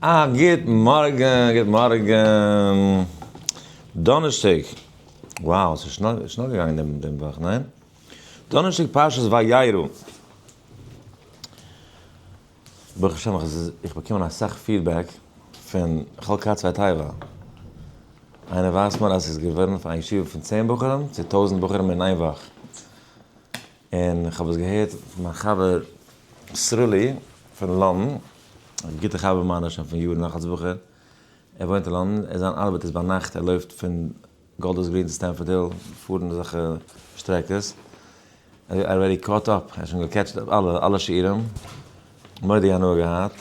א גוט מארגן, גוט מארגן. דאנערשטאג, wow ס'איז שנעל שנעל געגאנגען דעם דעם וואך, ניין? דאנערשטאג פרשת וירא. ברוך השם איך איך באקומען אסאך פידבעק פון חלקה צוויי טייווא. איינער ווייזט מיר אז ס'איז געווארן פאר א ישיבה פון צען בחורים צו טויזנט בחורים אין איין וואך. און איך האב עס געהערט פון מיין חבר סרולי פון לאנדן, א גוטע חבר מיינער שוין פון יארן נאך אלס בחור, ער וואוינט אין לאנדן, ער זיין ארבעט איז ביינאכט, ער לויפט פון גאלדערס גרין צו סטענפארד היל, פארן אזעלכע שטרעקעס, ער איז אלרעדי קאוט אפ, ער האט שוין געקעטשט אפ אלע אלע שיעורים, מורא'דיגע הנאה געהאט,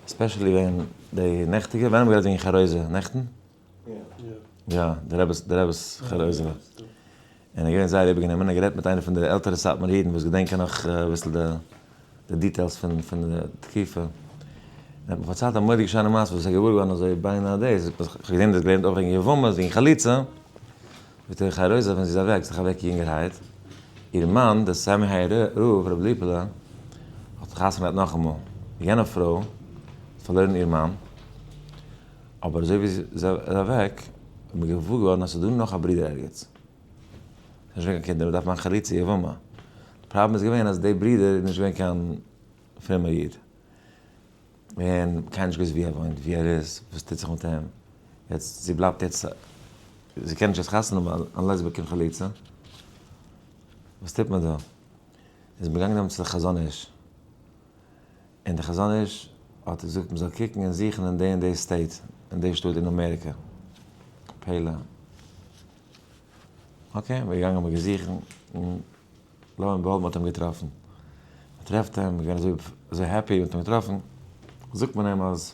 ספעשעלי ווען די נעכטיגע, ווען האבן מיר געהאט וועגן חרוזת? נעכטן? יא, די רעבעס, די רעבעס חל אויס זיין. און ער איז געווען זייער איבערגענומען, ער האט גערעדט מיט איינער פון די עלטערע סאטמאר אידן וואס געדענקען נאך אביסל די דיטעילס פון פון די תקופה. ער האט מיר פארציילט א מורא'דיגע שיינע מעשה וואס ער איז געוואר געווארן אזוי ביינאר דעיס, איך האב געזען דאס געלערנט אויך וועגן יבמות, וועגן חליצה, וועט איר חי רויזא ווען זי איז אוועק, זיך אוועק יונגערהייט, איר מאן דער סאמע היי ר הרב ר' ליפעלע האט חתונה געהאט נאכאמאל, יענע פרוי האט פארלוירן איר מאן, אבער אזוי ווי זי איז אוועק איז מיר געוואר געווארן אז ס'איז דא נאך א ברודער ערגעץ. ס'איז נישט געווען קיין קינדער, מ'דארף מאכן חליצה יבמה. די פראבלעם איז געווען אז די ברודער איז נישט געווען קיין פרומער איד. און קיינער האט נישט געוואוסט וואו ער וואוינט, וואו ער איז, וואס טוט זיך מיט אים. יעצט זי בלייבט יעצט, זי קען נישט יעצט חתונה האבן אנלעס מ'באקומט חליצה. וואס טוט מען דא? איז מען געגאנגען נעמען צו די חזון איש. און דער חזון איש האט געזאגט מען זאל קוקן און זוכן אין די און די סטעיט, אין די שטאט אין אמעריקא, פלא. אקעי, מיר געגאנגען מיר געזוכן, און לא מעט בלב מען האט אים געטראפן. מען טרעפט אים, מיר געווען אזוי העפי מיר האט אים געטראפן, זאגט מען אים אז,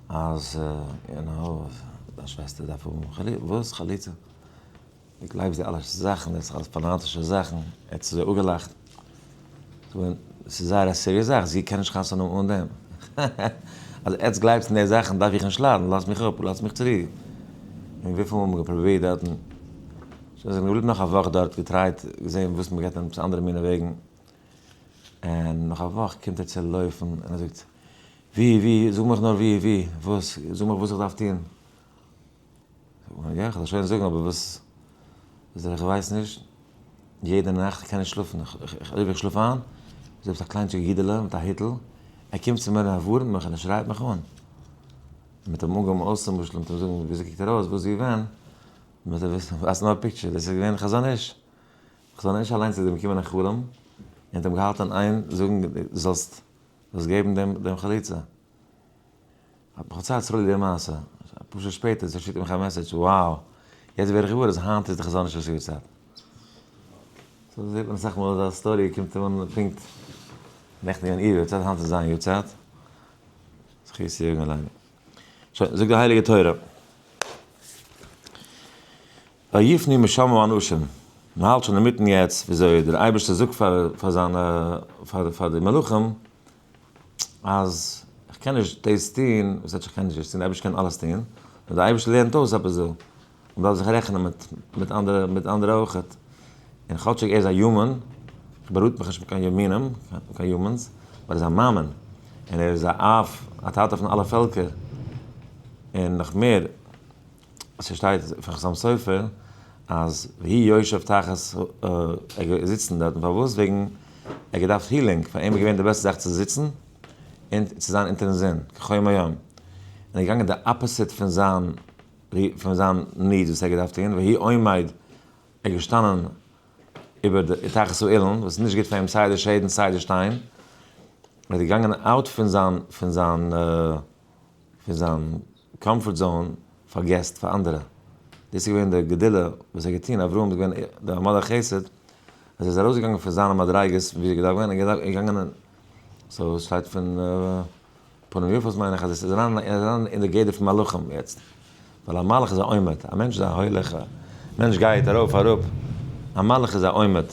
אז, יו נאו, דיין שוועסטער דארף האבן חליצה, וואס חליצה? די גלייבסט די אלע זאכן דאס איז אלעס פאנאטישע זאכן, ער האט צו זיי אפגעלאכט, געווען עס איז זייער א סיריעס זאך, זי קען נישט חתונה האבן אן דעם, האהא, אז עטס גלייבטס אין די זאכן דארף איך נישט ליידן, לאזט מיך אפ, לאזט מיך צורו, און וויפיל מאל מ'האט געפרובירט דארטן, שוין זענען געבליבן נאך א וואך דארט, געטרייט, געזען וואס מ'געט אים צו אנדערע מינע וועגן, און נאך א וואך קומט ער צו לויפן, און ער זאגט, ווי, ווי, זאג מיך נאר ווי, ווי, וואס, זאג מיך וואס איך דארף טון. יא, כ'וועל שוין זאגן, אבער וואס איז דער איך ווייס נישט, יעדע נאכט, כ'קען נישט שלאפן, אויב איך שלאף איין, איז דא עפעס א קליינטשיג אידעלע מיט א היטל, ער קומט צו מיר און ער ווארענט מיך און ער שרייט מיך אן. מען וועט אים אנגעבן אויס צום משל, מען וועט אים זאגן וויאזוי קוקט ער אויס, וואס איז געווען, מען וועט אים ווייזן א פיקטשער, דאס איז געווען חזון איש. חזון איש אליינס איז אים געקומען אין חלום און האט אים געהאלטען איין זאגן דו זאלסט זאלסט געבן דעם חליצה. האט מיך פארציילט סרולי די מעשה, אפאר שעה שפעטער זיך שיקט ער מיך א מעסעדזש, וואו, יעצט ווער איך געוואר אז היינט איז די חזון איש לשביר צייט. סאו זעט מען אסאך מאל אז א סטארי קומט אן פונקט נעכטן געווען איר יארצייט היינט איז זיין יארצייט. זכות יגן עלינו. שוין, זאגט די הייליגע תורה. ויפני משמים אנשים, מען האלט שוין אינמיטן יעצט וויאזוי דער אייבערשטער זאגט פאר זיינע פאר די מלאכים אז איך קען נישט דאס טון, וואס הייסט איך קען נישט דאס טון, די אייבערשטער קען אלעס טון, נאר די אייבערשטער לערנט אויס עפעס דא, מען דארף זיך רעכענען מיט מיט אנדערע מיט אנדערע אויך, און כאטשיג ער איז א יומען, איך באראט מיך נישט מיט קיין יומענים, קיין יומענס, אבער ער איז א מאמין, און ער איז א אב, א טאטע פון אלע פעלקער, און נאך מער, עס שטייט פון חתם סופר אז והי' יושב תחת א ער איז זיצן דארטן פארוואס וועגן ער געדארפט הילינג פאר אים איז געווען די בעסטע זאך צו זיצן און צו זיין אונטערן זון כחום היום און ער איז געגאנגען די אפעסיט פון זיין פון זיין ניד וואס ער געדארפט טון והי' עומד ער איז געשטאנען איבער די תחת האילן וואס איז נישט גוט פאר אים סיי די שעד און סיי די שטיין ער איז געגאנגען אוט פון זיין פון זיין פון זיין קאמפארט זאון פאר געסט פאר אנדערע, דאס איז געווען די גדולה וואס ער האט געטון, אברהם איז געווען די מלאך חסד, אז ער איז ארויס געגאנגען פון זיינע מדריגות ווי ער געדארפט ווען, ער איז געגאנגען אין, סאו עס שטייט פון פנים יפות מיין איך אז עס איז אריין ער איז אריין אין די גדר פון מלאכים יעצט, ווייל א מלאך איז א עומד, א מענטש איז א הולך, א מענטש גייט ארויף אראפ, א מלאך איז א עומד,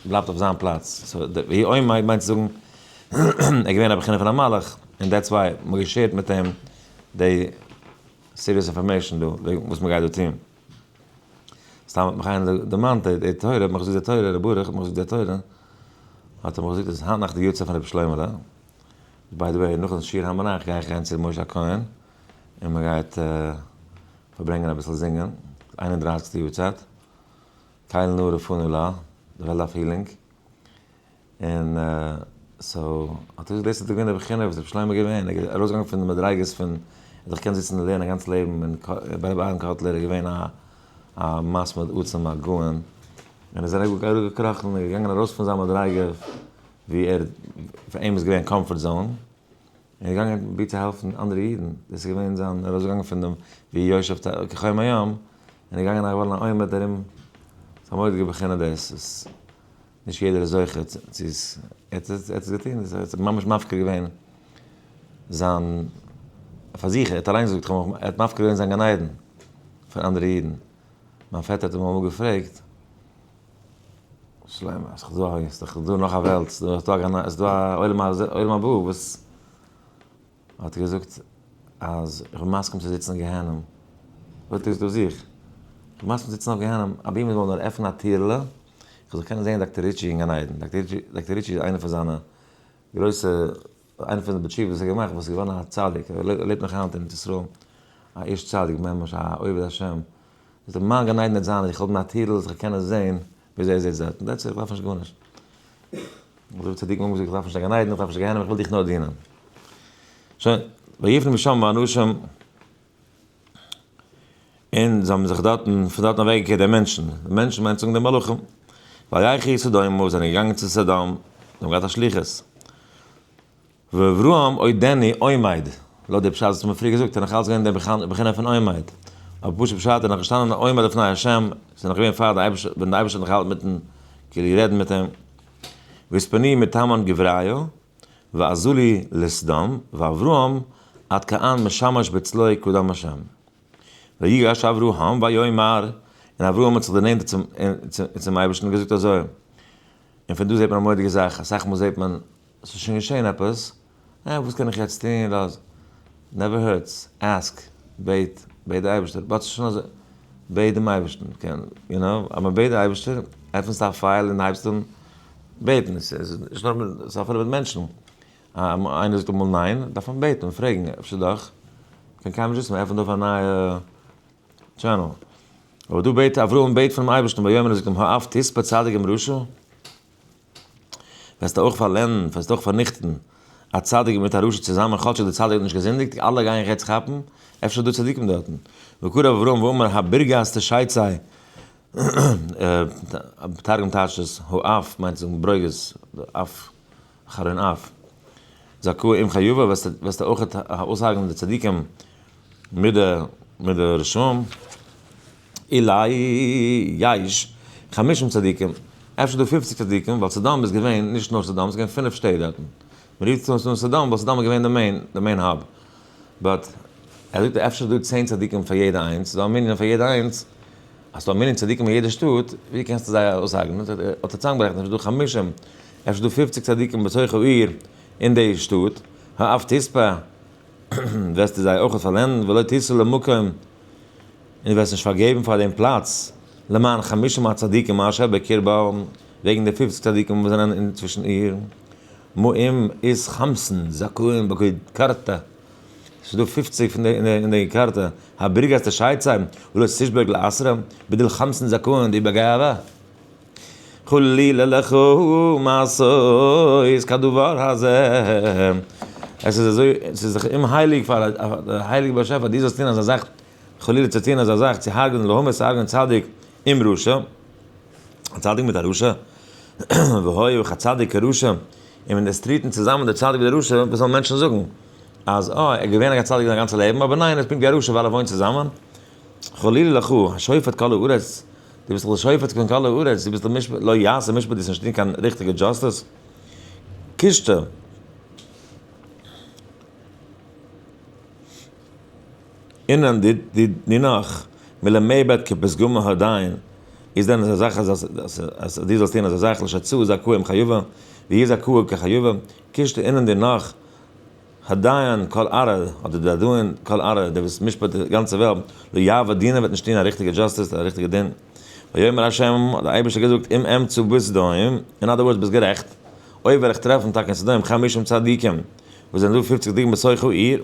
בלייבט אויף זיין פלאץ, סאו די והי' עומד מיינט צו זאגן ער איז געווען א בחינה פון א מלאך, און דעטס וויי מען האט געשערט מיט אים די סיריעס אינפארמעישן דא וועגן וואס מ'גייט דא טוהן. סתם האט מיך איינער דערמאנט די תורה, האט מיך געזאגט די תורה, ר' ברוך האט מיך געזאגט די תורה, האט ער מיך געזאגט אז היינט נאכט די יארצייט פון רבי שלוימעלע, ביי די וועי נאכן שיעור הר מנח גיי איך גיין צו ר' משה הכהן, און מ'גייט פארברענגען אביסל זינגען, איין און דרייסיגסטע יארצייט, טייל נא רפאנו לה, די וועלט דארף הילינג. און סאו האט ער געזאגט דאס איז דאך געווען די בחינה וואס רבי שלמה איז געווען, ער איז ארויסגעגאנגען פון די מדריגות פון ער האט דאך געקענט זיצן און לערנען א גאנץ לעבן און ביי רבי אהרן קאטלער איז געווען א א מסמיד עצום א גאון און איז ער אראפגעקראכן און געגאנגען ארויס פון זיין מדריגה ווי ער פאר אים איז געווען קאמפארט זאון און איז געגאנגען פרובירט צו העלפן אנדערע אידן, דאס איז געווען זיין ארויסגעגאנגען פון דעם ווי יושב כחום היום און איז געגאנגען א געווארן א עומד ארום ס'איז א מורא'דיגע בחינה דאס וואס. נישט יעדער איז זוכה צו עס, ער האט עס, ער האט עס געטון, ער האט זיך ממש מפקיר געווען זיין, פאר זיך, ער האט אליין געזאגט, כ'האב מיך, ער האט מפקיר געווען זיין גן עדן פאר אנדערע אידן, מיין פעטער האט אים אמאל געפרעגט, שלמה, איז דאך דא א הויז, איז דאך דא נאך א וועלט, איז דא א גן עדן, איז דא א עולם ה, עולם הבא, וואס. ער האט געזאגט אז כ'בין מסכים צו זיצן אויף גיהנום. זאגט ער, איז דא זיך. כ'בין מסכים צו זיצן אויף גיהנום אבי מ'זאל נאר עפענען א טיר'לע איך זאל קענען זעהן דאקטער ריטשי אין גן עדן. דאקטער ריטשי איז איינע פון זיינע גרויסע, איינע פון די בתשובות וואס ער האט געמאכט, וואס איז געווארן א צדיק, ער לעבט נאך היינט אין ארץ ישראל, א איש צדיק ממש, א עובד השם. זאגט ער, מיין גן עדן וועט זיין אז איך האב מיר א טיר'ל זיך קענען זעהן וויאזוי איר זעהט זייט, דעטס איט, איך דארף נישט גארנישט. אזוי ווי צדיקים האבן געזאגט, איך דארף נישט קיין גן עדן, איך דארף נישט קיין גיהנום, איך וויל דיך נאר דינען. שוין, ויפלו משם האנשים, און זיי האבן זיך דארטן, פון דארטן אוועק געקערט די מענטשן, די מענטשן מיינט צו זאגן די מלאכים, וילכו סדומה, זיי זענען געגאנגען צו סדום, זיי האבן געהאט א שליחות. ואברהם אוי דעני עומד, לויט די פשט וואס מ'האט פריער געזאגט איז נאך אלץ געווען די בחינה פון עומד, אבער פשוט פשט איז נאך געשטאנען א עומד לפני השם, עס איז נאך געווען פאר די אייבערשטער, ווען די אייבערשטער האט נאך געהאלטן מיטן כאילו רעדן מיט אים, והספני מתימן גבריא, ועזולי לסדום, ואברהם עד כאן משמש בצלו קדם השם. ויגש אברהם ויאמר, און אברהם האט זיך דערנענטערט צום און צום אייבערשטן און געזאגט אזוי, און פון דא זעט מען א מורא'דיגע זאך, אסאך מאל זעט מען, עס איז שוין געשען עפעס, אה, וואס קען איך יעצט טון, לאז, נעווער הערטס, עסק, בעט, בעט די אייבערשטער, באטס שוין אזוי, בעט דעם אייבערשטן, קען, יו נאו, אז מען בעט די אייבערשטער, עפענסטו א פייל און הייבסט אן בעטן, עס איז נישט נאר, עס איז אפילו מיט מענטשן, אז איינער זאגט אמאל ניין, דארף מען בעטן און פרעגן, אפשר דאך, קען קיינער נישט וויסן, מען עפענט אויף א נייע טשענעל, אבער דא בעט אברהם בעט פונעם אייבערשטן, ויאמר און זאגט אים, האף תספה צדיק עם רשע, וועסטו אויך פארלענדן, וועסטו אויך פארניכטן, א צדיק מיט א רשע צוזאמען, כאטשיג דער צדיק האט נישט געזינדיגט, אלע גייען רעדטס כאפן, אפשר איז דא צדיקים דארטן. וקרב אברהם ואמר הבירגאס תשייצאי, תרגום טייטשט עס, האף מיינט צו זאגן ברוגז, אף, אחרון אף, זעקו אם חיובה, וועסטו אויך אויסהרג'נען די צדיקים מיט די רשעים. אולי יש חמישים צדיקים, אפשר דא פופציג צדיקים, ווייל סדום איז געווען נישט נאר סדום, ס'איז געווען פינף שטעט דארטן, מ'רופט עס אן סדום ווייל סדום איז געווען די מעין, די מעין האב, באט ער זאגט אפשר איז דא צען צדיקים פאר יעדע איינס, ס'איז דא א מנין פאר יעדע איינס, אז ס'איז דא א מנין צדיקים אין יעדע שטאט, ווי קענסטו זיי אויסהרג'נען, האט ער צוזאמגערעכנט אפשר איז דא חמישים, אפשר איז דא פופציג צדיקים בתוך העיר, אין די שטאט, האף תספה, וועסטו זיי אויך פארלענדן, ולא תסור למקום. און דו וועסט נישט פארגעבן פאר דעם פלאץ, למען חמשה מהצדיקים אשר בקרבה, וועגן די פופציג צדיקים וואס זענען אינצווישן איר, מאים איז חמסין זכאים בקוד קרתא, עס איז דא פופציג פון די אין די קרתא, הבריגת תשייצאן ולא תשבר לעשרה, בדל חמסין זכאים די בגאווה, חלילה לך מעשות כדבר הזה, עס איז אזוי, עס איז זיך אומהייליג פאר א הייליגן באשעפער דו זאלסט טון אזא זאך, חלילה צו טוהן אזא זאך צו הרג'נען לעומת הרג'נען צדיק עם רשע, א צדיק מיט א רשע, והוי אויך א צדיק כרשע, און מען איז טריטן צוזאמען דער צדיק מיט דער רשע, וואס וועלן מענטשן זאגן? אז אה ער איז געווען א צדיק זיין גאנצע לעבן אבער ניין ער איז פונקט ווי א רשע ווייל ער וואוינט צוזאמען? חלילה לך, השופט כל הארץ, דו ביסט דאך דער שופט פון כל הארץ, דו ביסט דער משפט, לא יעשה משפט דו זאלסט נישט טוהן קיין ריכטיגע דזשאסטעס? קישטע. אינן די די נינח מילא מי בעת כפסגו מהר דיין, איז דען אזא זאך אז אז די זאלסט טוהן אזא זאך לש צו איז הקוה עם חיובה, ווי איז הקוה כחיובה, קישטע אינן די נח הדיין כל ארער, אדער די דיין כל ארער דער וואס משפט די גאנצע וועלט, לא יעבור דינא וועט נישט טוהן א ריכטיגע דזשאסטיס א ריכטיגע דין, ויאמר השם האט די אייבערשטער געזאגט אם אמצא בסדום, אין אדער ווארדס ביסט גערעכט, אויב וועל איך טרעפן טאקע אין סדום חמישים צדיקים וואס זענען דא פופציג דיגמות סוחי עיר,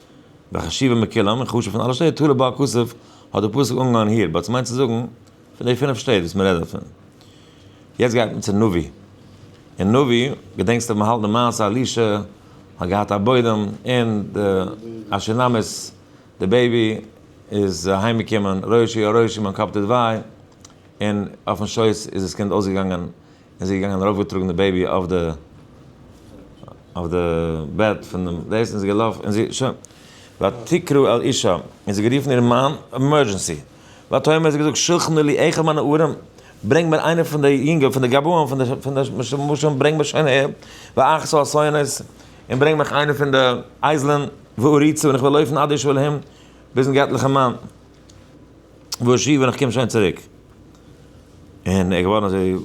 וחשיבה מכולם, און חשוב פון אלע שטעט, תולה בה הכסף, האט דער פסוק אנגעהויבן היער, בה ס'מיינט צו זאגן, פון די פינף שטעט וואס מ'רעדט דערפון. יעצט גייט מען צו נביא. אין נביא, געדענקסט אויב מ'האלט די מעשה אלישע האט געהאט א בוידעם און די א שונמית, די בעיבי, איז אהיים געקומען, ראשי הרעשים, מיין קאפ טוט וויי, און אויפן שויס איז דאס קינד אויסגעגאנגען, און זי איז געגאנגען ארויפגעטראגן די בעיבי אויף די אויף די בעט פון דעם דאס און זי געלאפן און זי שוין ותקרא אל אישה און זי גערופן איר מאן עמורדזשענסי ותאמר זי געזאגט שלחנה לי אחד מהנערים ברענג מיר איינער פון די יונגע פון די גבאים פון די פון די משומשים ברענג מיר שוין אהער ואחזו אסיונות און ברענג מיך איינער פון די אייזלען ואריצה און איך וועל לויפן עד אשוב אל העם ביזן געטליכן מאן. וואו שיף און איך קום שוין צוריק. און ער געווארן אזוי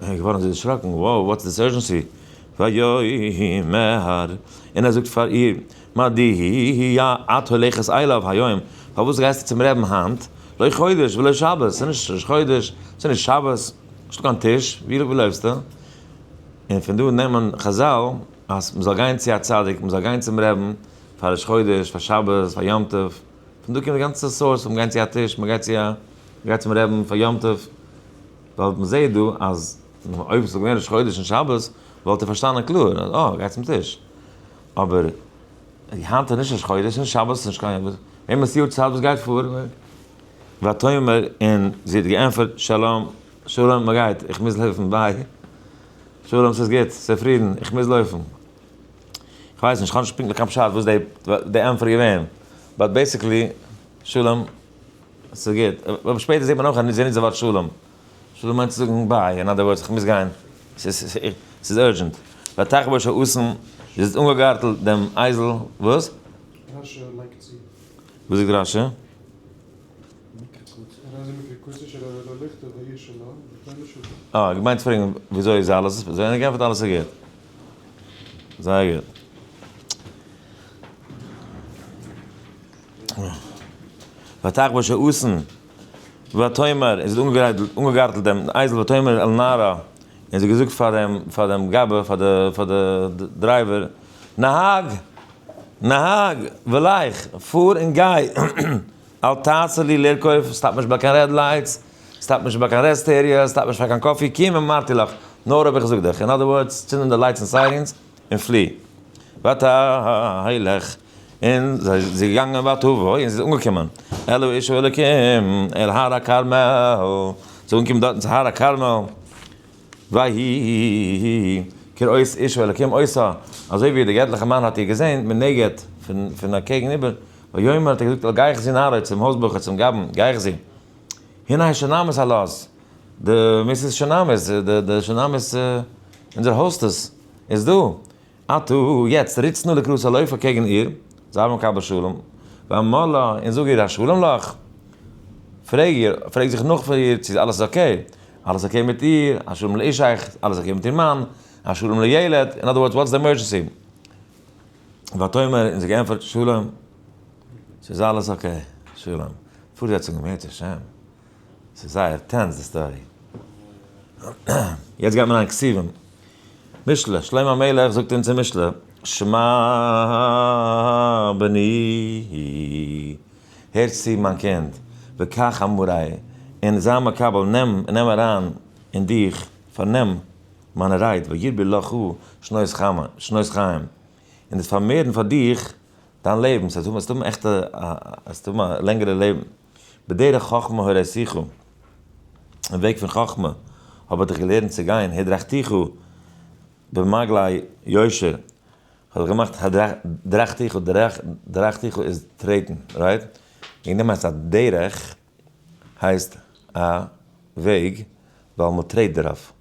ער געווארן אזוי דערשראקן, wow וואטס דיס אורזשענסי? ויאמר און ער זאגט פאר איר, מה דהי' את הולכת אליו היום, פארוואס גייסטו צום רעבן היינט, לא חודש ולא שבת, ס'איז נישט ראש חודש, ס'איז נישט שבת, נישטא קיין טיש, ווי לעבסטו? און פון דא נעמען חזל אז מ'זאל גיין צו א צדיק, מ'זאל גיין צום רעבן פאר ראש חודש, פאר שבת, פאר יום טוב. פון דא קומט די גאנצע סארס פון גיין צו א טיש, מ'גייט צו א, מ'גייט צום רעבין פאר יום טוב, ווייל מ'זעהט דא אז אויב וואלט עס געווען ראש חודש און שבת וואלט ער פארשטאנען קלאר אז אה, גיי צום טיש, אבער היינט איז נישט ראש חודש און שבת איז נישט קיין יום, וועמען איז יאר צייט וואס גייט פאר? ותאמר און זי האט געענפערט שלום, שלום מ'גייט, איך מוז לויפן ביי, שלום ס'איז גוט, ס'איז פרידן, איך מוז לויפן. איך ווייס נישט, איך האב נישט פונקטליך קיין פשט וואס די די ענטפער איז געווען, באט בעיסיקלי, שלום, עס איז גוט, אבער שפעטער זעט מען אויך אז זיי נוצן די ווארט שלום, שלום מיינט צו זאגן ביי, אין אדער ווארדס איך מוז גיין, עס איז עס איז אורדזשענט, ותחבוש האסן איז האט אנגעגארטלט דעם אייזל, וואס? רשי לייגט צו. וואס זאגט רשי? אה, געמיינט צו פרעגן וויאזוי איז אלעס איז פארזעהן און גענפערט אלעס איז גוט. זייער גוט. ותח בה שאסן ותאמר און זי האט אנגעגארטלט דעם אייזל ותאמר אל נערה און זי האט געזאגט פאר דעם פאר דעם גאבע פאר די פאר די דרייווער, נהג! נהג! וועל איך! פאר און גיי! אל תעשה לי לרכוב, סטאפ נישט ביי קיין רעד לייטס, סטאפ נישט ביי קיין רעסט עריעס, סטאפ נישט פאר קיין קאפי, קום אמרתי לך, נאר האב איך געזאגט דיך, אין אדער ווארדס, צינד אן די לייטס און סיירינס, און פלי ותהילך, און זי איז געגאנגען ותבוא, און זי איז אנגעקומען אל האיש האלקים, אל הר הכרמל, זי איז אנגעקומען דארטן צו הר הכרמל, ויהי כראות איש האלקים אותה, אזוי ווי דער געטליכער מאן האט איר געזען מנגד פון א קעגן איבער, ויאמר האט ער געזאגט אל גיי איך זי נאריד צום הויז בחור צום גבאי, גיי איך זי, הנה האישה נמות על עז, די מיסיס שונאמיס, די שונאמיס, אונזער האוסטעס איז דא. אטא יעצט ריצט נא לקראת הלויף אקעגן איר, זיי האבן קיין בת שלום, ואמר לה, און זאג איר א שלום לך, פרעג איר, פרעג זיך נאך פון איר צו אלעס איז אקעי, אלעס אקעי מיט איר, א שלום לאשתך, אלעס אקעי מיט איר מאן, א שלום לילד, אין אדער ווארדס וואטס די עמערדזשענסי? ותאמר, און זי האט געענטפערט, שלום, ס'איז אלעס אקעי, שלום, פארזעצונג, אם ירצה השם. ס'איז זייער טענס די סטארי. יעצט גייט מען ליינען כתובים. משלי, שלמה המלך זאגט אונז אין משלי, שמע בני, הער צו מיין קינד, וקח אמרי, און זיי מקבל, נעם, נעם אריין אין דיך, פארנעם, מיינע רייד, וירבו לך שנות חמה, שנות חיים, און דאס פארמערן פאר דיך דיין לעבן, ס'הייסט וועסט האבן עכט א, וועסט האבן א לענגערע לעבן. בדרך חכמה הורייתיך, אין וועג פון חכמה האב איך דיך געלערנט צו גיין, הדרכתיך במעגלי יושר, כ'האב דיך געמאכט הדרכתיך, דרכתיך איז טרעטן, רייט? וועגן דעם הייסט א דרך הייסט א וועג ווייל מען טרעט דערויף,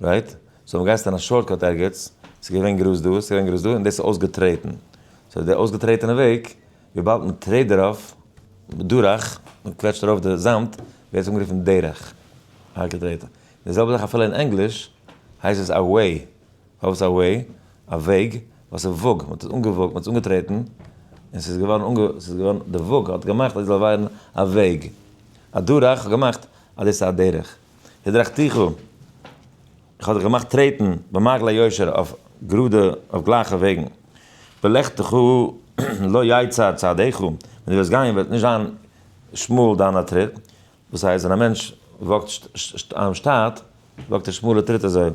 רייט? סאו ווען גייסטו אין א שארטקאט ערגעץ, ס'איז געווען גראז דא, ס'איז געווען גראז דא און דאס איז אויסגעטרעטן, סאו די אויסגעטרעטענע וועג, וויבאלד מען טרעט דערויף, בדרך, מען קוועטשט ארויף די זאמד, ווערט עס אנגערופן דרך, הארטע טרעטן. די זעלבע זאך אפילו אין ענגליש, הייסט עס א וועי, פארוואס א וועי? א וועג, ווייל ס'איז וואג, מען האט עס אנגעוואגט, מען האט עס אנגעטרעטן, און ס'איז געווארן אנגע, ס'איז געווארן, די וואג האט געמאכט אז עס זאל ווערן א וועג. א דרך האט געמאכט אז דאס איז א דרך. דרך תוכו. איך האב דיך געמאכט טרעטן במעגלי יושר אויף גראדע אויף גלייכע וועגן, בלכתך לא יצר צעדיך, ווען דו וועסט גיין וועט נישט זיין שמאל דיינע טריט, וואס הייסט ווען א מענטש וואקט שטייט וואקט ער שמאלע טריט אזוי,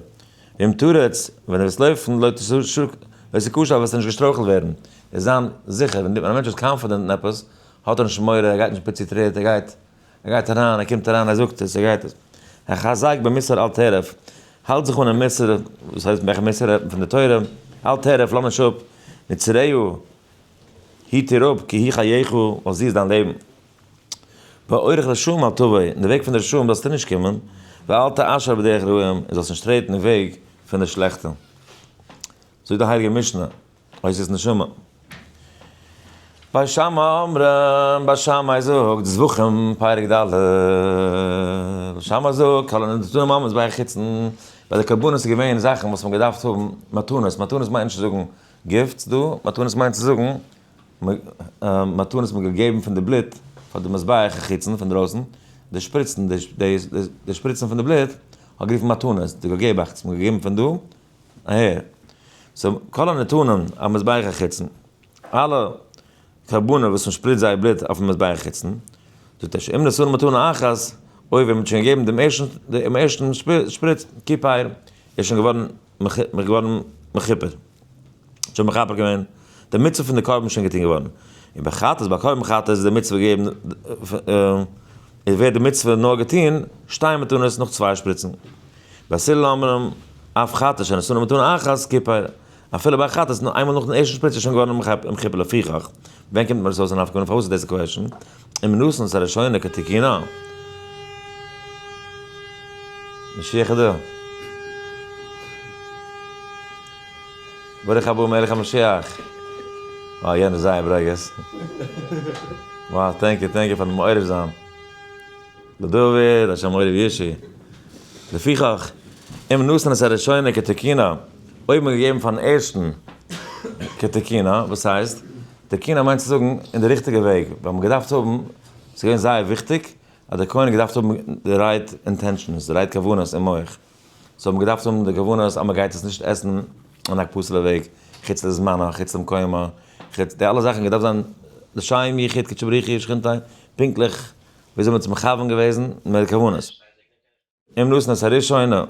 ואם תרוץ ווען דו וועסט לויפן לא תשוק לא תיכשל וועסטו נישט געשטרויכלט ווערן, איז זיין זיכער, ווען א מענטש איז קאנפידענט אין עפעס האט ער נישט מורא ער גייט נישט פיצי טריט ער גייט ער גייט אריין, ער קומט אריין, ער זאגט עס, ער גייט עס. ער חזר'ט ביי מוסר אל תערב, האלט זיך אן אין מוסר, וואס הייסט וועלכע מוסר רעדט מען פון די תורה, אל תערב לאמיך נישט אפ, מצרעהו, היט דיר אפ, כי היא חייך, ווייל זי איז דיין לעבן. באורך לשם אל תבא, אין די וועג פון די רשעים זאלסטו נישט קומען, ואל תעשר בדרך רעים, און זאלסט נישט טרעטן אין וועג פון די שלעכטע. זאגט די הייליגע משנה. אוי ס'איז נשמה. ביי שמע אומרים, ביי שמאי זאגט, זבחים פרק ד', שמאי זאגט, כל הנתנו ממות ביי חוצן, ביי די קרבנות איז געווען זאכן וואס מ'האט געדארפט האבן מתנות, מתנות מיינט נישט צו זאגן גיפטס דא, מתנות מיינט צו זאגן מתנות מ'האט געגעבן פון די בלוט פאר די מזבח אין חוצן פון דרויסן, די שפריצן, די שפריצן פון די בלוט האט גערופן מתנות, די געבעכטס, מ'האט געגעבן פון דא, אהה. סאו כל הנתונים על מזבח החיצון, אלע קרבנות וואס מען שפריצט זייער בלוט אויפן מזבח חיצון, זאגט ער ש אם נשאנו מתנה אחת, אויב ווען מען האט שוין געגעבן דעם ערשטן דעם ערשטן שפריץ, כיפור, איז שוין געווארן געווארן מכופר. שוין מכפר געווען, די מצוה פון די קרבן איז שוין געטון געווארן. און ביי חטאת, ביי קרבן חטאת איז די מצוה געגעבן, איז ווערט די מצוה נאר געטון, שתי מתנות נאך צוויי שפריצן. בעסיל אמנם אף חטא שאין אסור למתון אחת כיפר, אפילו ביי א חטא איז נאר איינמאל נאכן ערשטן שפריץ איז שוין געווארן אום כיפור לפיכך ווען קומט מיר עס אויס א נפק מ פארוואס איז דאס די קוועשן און מנוסן עס הראשונה כתיקינא משיח איז דא. ברוך הבא מלך המשיח. אה יענער איז זייער ברוגז. וואו טענק יו טענק יו פארן מעורר זיין. לדוד אשר מעורר ישי. לפיכך, אם נתן את הראשונה כתקינא, אויב מען האט געגעבן פארן ערשטן כתקינא, וואס הייסט? תקינא מיינט צו זאגן אין די ריכטיגע וועג, ווען מען האט געדארפט האבן, ס'איז געווען זייער וויכטיג אז דער כהן האט געדארפט האבן די רייט אינטענשאנס, די רייט כוונות אין מח, זיי האבן געדארפט האבן די כוונות אז מען גייט עס נישט עסן אין א פסול'ע וועג, חוץ לזמנה, חוץ למקומה, חוץ, די אלע זאכן האט געדארפט זיין לשם יחיד קדשי בריך היא שכינתיה, פונקטליך וויאזוי מען האט עס מכוון געוועזן מיט די כוונות. אם נתן את הראשונה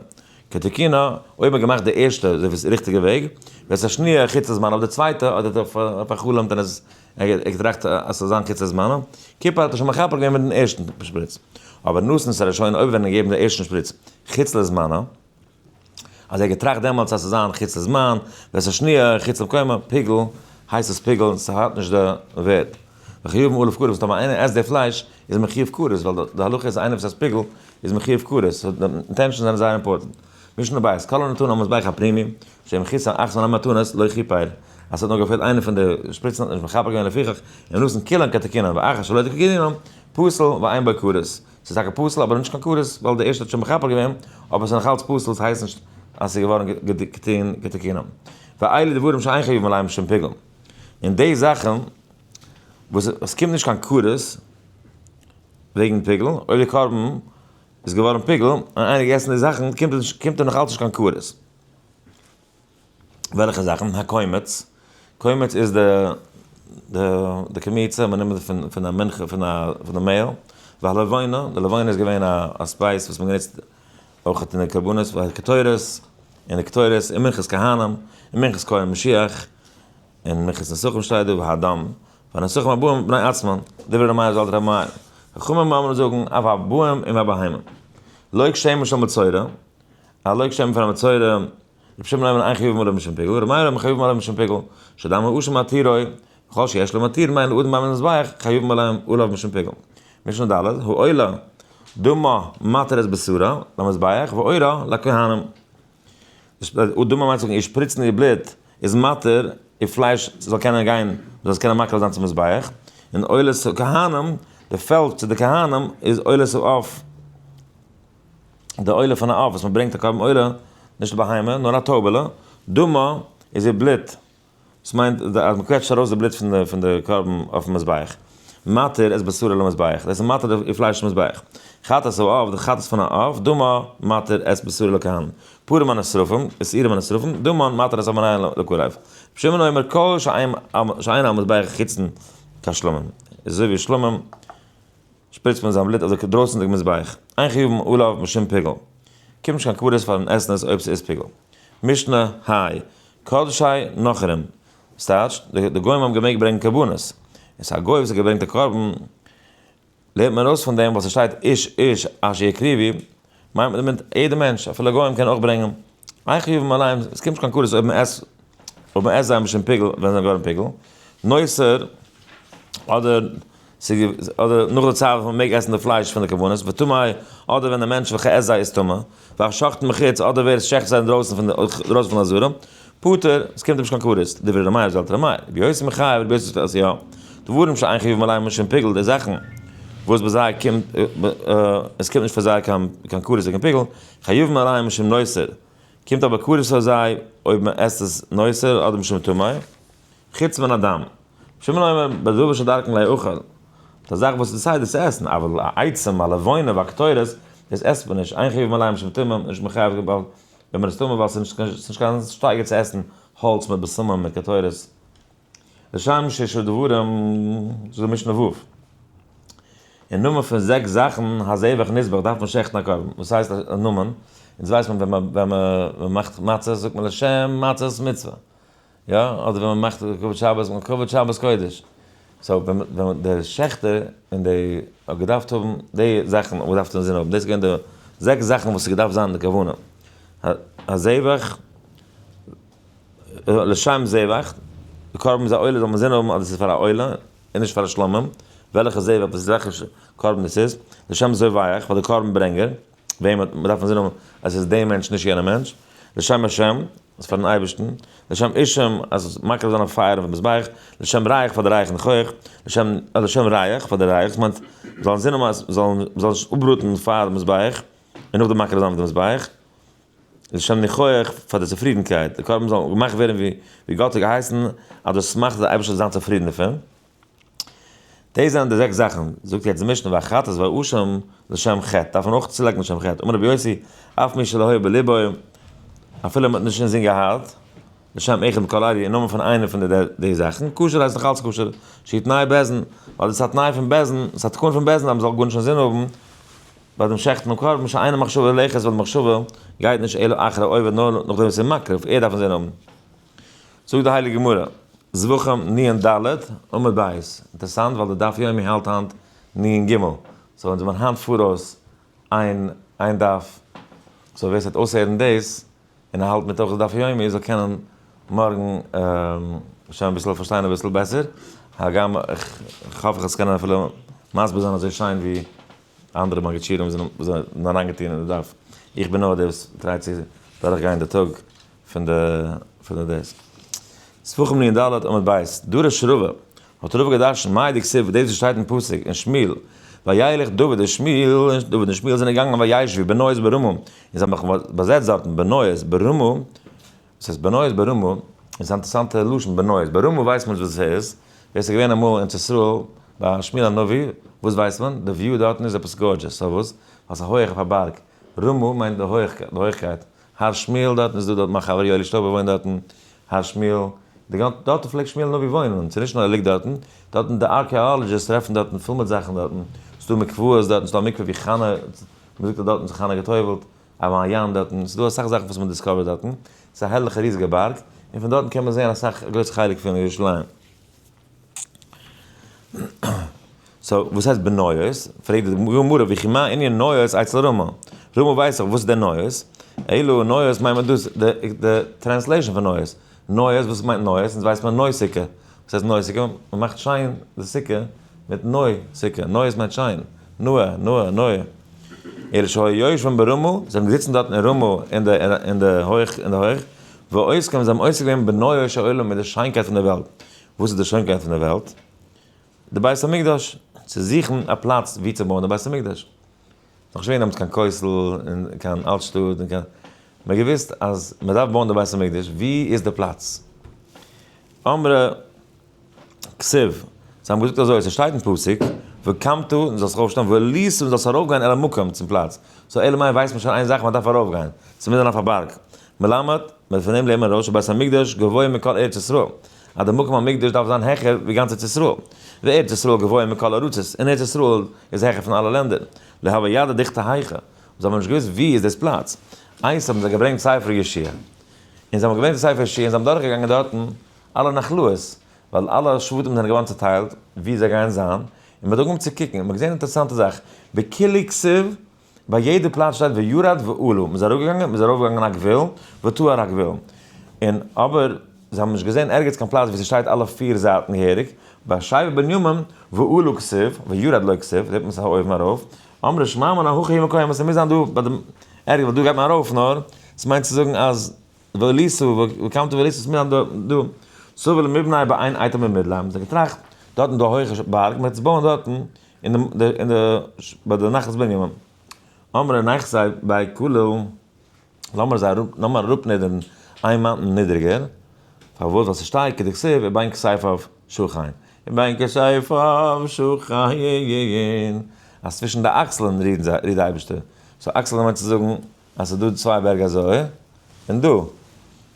כתיקונה, אויב מ'האט געמאכט די ערשטע אזוי ווי עס איז ריכטיגע וועג, ואת השנייה חוץ הזמנה אויף די צווייטע האט ער פאר'חלומ'ט און עס ער האט געטראכט אז ס'זאל זיין חוץ הזמנה, כיפור האט ער שוין מכפר געווען מיטן ערשטן שפריץ. אבער נתן את הראשונה אויב וועט מען געבן די ערשטן שפריץ חוץ לזמנה, אז ער האט געטראכט דעמאלטס אז ס'איז זיין חוץ לזמן, ווערסע שניה, חוץ למקומו, פיגל, הייסט עס פיגל, און ס'האט נישט די ווערד. וחיובן עליו כרת, טאמער איינער עסט די פלייש, איז מען חיוב כרת, ווייל די הלכה איז איינער וואס עסט פיגל, איז מען חיוב כרת, סאו די אינטענשאנס זענען זייער אימפארטענט. משנה בית, כל הנתון על מזבח הפנימי, שאין מכיסה און אחסון המתנות, לא כיפר. אז ס'האט נאר געפעלט איינע פון די שפריצן האט מען נישט מכפר געווען לפיכך, און מנסים כולם כתיקונם, ואחר שלא כתיקונם, פסול, ועיין בו כרת. ס'איז טאקע פסול אבער נישט קיין כרת ווייל די ערשטע האט שוין מכפר געווען, אבער ס'איז נאכאלץ פסול ס'הייסט נישט אז ס'איז געווארן געטוהן כתיקונם. ואלה דברים שאין חיוב עליהם שום פיגול. און די זאכן וואס עס קומט נישט קיין כרת וועגן פיגול, אויב די קרבן איז געווארן פיגול און איינער האט געגעסן די זאכן קומט עס נישט קומט ער נאכאלץ נישט קיין כרת. וועלכע זאכן? הקומץ, קומץ איז די די די קמיצה וואס מ'נעמט פון פון א מנחה פון א פון די מעהל, והלבונה, די לבונה איז געווען א א ספייס וואס מ'האט גענוצט אויך אין די קרבנות פאר קטורת, אין די קטורת, אין מנחת כהנים, אין מנחת כהן משיח, אין מנחת נסכים שטייט דא והדם, והנסכים הבאים בני עצמם, דברי ר' מאיר זאלטער רבי מאיר, חכמים אמרו זאגן אויף א בהם און א בהמה, לויק שמן של מצורע, הלויק שמן פאר א מצורע, רבי שמעון ליימען איין חיוב מלבן שם פיגול, רבי מאיר ליימען חיוב מלבן שם פיגול, שדמי הוא שמתירו, וכל שיש לו מתיר מעין אדן מים למזבח, חיוב מלבן ולבן שם פיגול. משנה ד', העולה דמא מתרת בשרה למזבח ועורה לכהנים. עולה דמא מיינט צו זאגן איר שפריצן איר בלוט איז מתיר איר פלייש זאל קענען גיין, מען זאל עס קענען מקריב זיין צום מזבח, און עולת הכהנים, די פעלד צו די כהנים איז עולת העוף. די עולה פון א עוף וואס מען ברענגט א קרבן עולה, נישט א בהמה, נאר א טויבעלע, דמא, איז איר בלוט, דאס מיינט אז מען קוועטשט ארויס די בלוט פון די קרבן אויפן מזבח, מתיר את בשרה למזבח, דאס איז מתיר איר פלייש צום מזבח, חטאת העוף, די חטאת פון א עוף, דמא, מתיר את בשרה לכהן, פרים הנשרפים, די שעירים הנשרפים, דמא, מתיר את המנין לכהן, רבי שמעון אומר כל שאין על מזבח חיצון כשלמים, איז אזוי ווי שלמים. שפריצט פון זיין בלוט אזוי דרויסנדיג מזבח. איין חיוב אן אויל אויף משום פיגול. קומט נישט קיין כבדות פארן עסן עס אויב ס'איז פיגול. משנה, האי. קדשי נוכרים. וואס טייטש, די גוים האבן געמעגט ברענגן קרבנות. און ס'איז א גוי וואס האט געברענגט א קרבן. לערנט מען ארויס פון דעם ווייל ס'שטייט איש איש אשר יקריבי. מיינט מען דערמיט יעדער מענטש, אפילו גוים קענען אויך ברענגען איין חיוב מלאים, עס קומט נישט קיין קרית אויב מען עסט, אויב מען עסט זיי משום פיגול, ווען זיי זענען געווארן פיגול, נאסער, אדער אדער נאך די צייט וואס מען מעג עסן די פלייש פון די קרבנות, וטמאי, אדער ווען דער מענטש וועלכער עסט זיי איז טמא, והשחט מחוץ, אדער ווער עס שעכט זיי אינדרויסן פון די, אינדרויסן פון די עזרה. פטור, עס קומט נישט קיין כרת, דברי רמאי אויף זעלטענע מי, רבי יוסי מחייב, רבי יוסי שטעלט יא, דברים שאין חיוב מלאים און שום פיגול, די זאכן וואס ביי זיי קומט, עס קומט נישט פאר זיי קיין כרת און קיין פיגול, חיוב מלאים און שום נאסר, קומט אבער כרת פאר זיי אויב מען עסט עס נאסר אדער משום טמא, חוץ מן הדם, רבי שמעון אומר, בדבר שדרכן לא יאכל, די זאך וואס איז סדר צו עסן, אבל א עצם, א לבנה, א קטורת, דאס עסט מען נישט, אין חיוב מלאים און שום טמא, מען איז נישט מחייב קיין בל. ווען מען איז טמא ווייל ס'איז נישט קיין שטייגער צו עסן האלץ מיט בשמים מיט קטורת לשם ששת דברים זאגט די משנה ו' אין נאמען פון זעקס זאכן הזבח נזבח דארף מען שעכטן א קרבן, וואס הייסט א נאמען? אונז ווייסט מען ווען מ'מאכט מצות זאגט מען לשם מצות מצוה. יא, אדער ווען מ'מאכט כבוד שבת, מ'האט כבוד שבת קודש. סאו ווען ווען דער שעכטער און די האט געדארפט האבן די זאכן האט מען געדארפט אינזין האבן, דאס איז געווען די זעקס זאכן וואס איז געדארפט זיין די כוונה. הזבח, לשם זבח, די קרבן איז א עולה זאל מען אינזין האבן אז דאס איז פאר א עולה און נישט פאר א שלמים, וועלכע זבח וואס איז וועלכע קרבן דאס איז, לשם זובח, פאר די קרבן ברענגער. וועם האט מ'דארף אינזין האבן אז עס איז דער מענטש נישט יענער מענטש, לשם השם איז פארן אייבערשטן, לשם אישם אז מקריב זיין א פייער אויפן מזבח, לשם ריח פאר די רייך און חוח, לשם לשם ריח פאר די רייך, עס מיינט מ'זאל אינזין האבן אז מ'זאל מ'זאל נישט אפבראטן פאר די מזבח און נאכדעם מקריב זיין אויף די מזבח, לשם ניחוח פאר די צופרידנקייט, די קרבן זאל געמאכט ווערן ווי גאט האט געהייסן, אז דאס מאכט אז די אייבערשטער זאל זיין צופרידן דערפון. דאס זענען די זעקס זאכן, זאגט יעצט די משנה והחטאת והאשם לשם חטא, דארף מען אויך צולייגן לשם חטא, אמר רבי יוסי, אף מי שלא היה בלבו, אפילו מען האט נישט אינזין געהאט, לשם אחד מכל אלה, אין נאמען פון איינע פון די זאכן, כשר הייסט נאך אלץ כשר, שהיא תנאי בעז נ, ווייל דאס איז א תנאי פון בעז נ, ס'איז א תקנה פון בעז נ אז מ'זאל גארנישט אינזין האבן ביי דעם שעכטן דעם קרבן, שאינו מחשבה ללכת, ווייל די מחשבה גייט נישט אלא אחרי העובד נאר נאכדעם וואס ער איז מקריב, ער דארף אינזין האבן. זאגט די הייליגע גמרא, זבחים ני ן ד, עמוד ב', אינטערעסאנט ווייל די דף יומי האלט היינט ני ן ג, סאו אונז זעמיר היינט פאראויס איין איין דף, סאו ווער ס'וועט אויסהערן דאס און ער האלט מיט אויך די דף היומי זאל קענען מארגן שוין אביסל פארשטיין אביסל בעסער, הגם כ'האף כ'וועל עס קענען אפילו מסביר זיין אזוי שיין ווי אנדערע מגידשירים וואס זענען אריינגעטון אין די דף, איך בין נאר דער וואס טרייט צו דורכגיין די טאג פון די פון די דעסק. ספחמ ני ד עמוד ב', דא ר' שרובא האט רובא געדארשן מאי דכסוף דאס וואס שטייט אין פסוק אין שמואל וילך דוד און שמואל און דוד און שמואל זענען געגאנגען וישבו בנועז ברמה און זיי האבן זיך באזעצט דארטן בנועז ברמה וואס הייסט בנועז ברמה איז א אינטערעסאנטע לשון בנועז ברמה ווייסט מען נישט וואס עס איז ווער ס'איז געווען אמאל ארץ ישראל ביי שמואל הנביא וואס ווייסט מען די וויו דארטן איז עפעס גארדזשעס סאו וואס ווייל ס'איז הויעך אויף א בארג רמה מיינט די הויעכקייט הר שמואל דארטן איז דא דארט מיין חבר יואלי שטויבער וואוינט דארטן, הר שמואל, די גאנ, דארטן פלעגט שמואל נביא וואוינען, און ס'איז נישט נאר ער ליגט דארטן, דארטן די ארקעאלעדזשיסט טרעפן דארטן פול מיט זאכן דארטן, ס'איז דא מקוואות דארטן, ס'איז דא א מקווה ווי חנה, מ'זאגט אז דארטן איז חנה געטובל'ט, א מעיין דארטן, ס'איז דא אסאך זאכן וואס מ'דיסקאווערט דארטן, ס'איז א הערליכע ריזיגע בארג, און פון דארטן קען מען זעהן אסאך, א גרויסע חלק פון ירושלים. סאו וואס הייסט בניות? פרעגט די גמרא וכי מה ענין ניות אצל רמא? רמא ווייסט דאך וואס איז דען ניות? אלא ניות מיינט מען דאס די טרענסלעישאן פון ניות, ניות וואס מיינט ניות? אונז ווייסט מען נוי סוכה, וואס הייסט נוי סוכה? מען מאכט שיין די סוכה מיט נוי סוכה, נוי מיינט שיין, נאה, נאה, נאה. אלא שהיו יושבין ברמא, זיי זענען געזיצן דארט אין רמא אין די הויך, ועושה כעם זיי האבן עוסק געווען בנאה של עולם מיט די שיינקייט פון די וועלט, וואס איז די שיינקייט פון די וועלט? די בית המקדש, צו זוכן א פלאץ ווי צו בויען די בית המקדש, נאך נישט געווען דעמאלטס קיין כותל און קיין אלט שטאט און קיין, מען האט געוואוסט אז מען דארף בויען די בית המקדש, ווי איז די פלאץ? אמר ר'. כסוף, זיי האבן געזאגט אזוי, ס'שטייט אין פסוק, וקמת און זאלסט זיך אויפשטאן, וליסע און זאלסט ארויפגיין אל המקום צום פלאץ, סאו אלא מאי ווייסט מען שוין איין זאך מ'דארף ארויפגיין, ס'איז אינמיטען אויף א בארג, מלמד, מלפנים לעמען ראה שבית המקדש גבוה מכל ארץ ישראל, אז די מקום המקדש דארף זיין העכער ווי גאנץ ארץ ישראל, וארץ ישראל גבוה מכל ארצות, און ארץ ישראל איז העכער פון אלע לענדער, להוה ידע דכתא היכא, און זיי האבן נישט געוואוסט ווי איז דאס פלאץ, איינס האבן זיי געברענגט ספר ישעי', און זיי האבן געברענגט די ספר ישעי' און זיי האבן דורכגעגאנגען דארטן, אלע נחלאות, ווייל אלע שבטים זענען געווארן צוטיילט ווי זיי גייען זיין, און מען האט אנגעהויבן צו קוקן, און מען האט געזען אן אינטערעסאנטע זאך, בקלי כסף, ביי יעדע פלאץ שטייט וירד ועלו, מען איז אראפגעגאנגען, מען איז ארויפגעגאנגען א גבול, ותו א הגבול, און אבער זיי האבן נישט געזען ערגעץ קיין פלאץ ווי ס'שטייט אלע פיר זייטן געהעריג, ביי שבט בנימין, ועלו כסף, וירד לו כסף, זעט מען ס'איז אויבן ארויף, אמרי שמע מינה הכי היא מקוים, אז ס'מוז זיין דא ביי דעם ערגעץ, ווייל דא גייט מען ארויף נאר, ס'מיינט צו זאגן אז וואליסא, וועלקאם טו וואליסא, וואס מיר האבן דא, סובל מבני' ביי איין אייטעם אין מידלאנד, מ'האט געטראכט, דארט איז דא א הויכע בארג, מ'וועט עס בויען דארטן, ביי די נחת בנימין, אמרי נחת זיי ביי כולא, לאמיר זיי אראפ, לאמיר אראפנידערן איין מאונטען נידעריגער, פארוואס? ווייל ס'שטייט כדכתיב ובין כסייפיו שוכין, ובין כסייפיו שוכין, אז צווישן די אקסלען רודט די אייבערשטער, סאו אקסלען מיינט צו זאגן. אז ס'איז דא צוויי בערג אזוי און דא.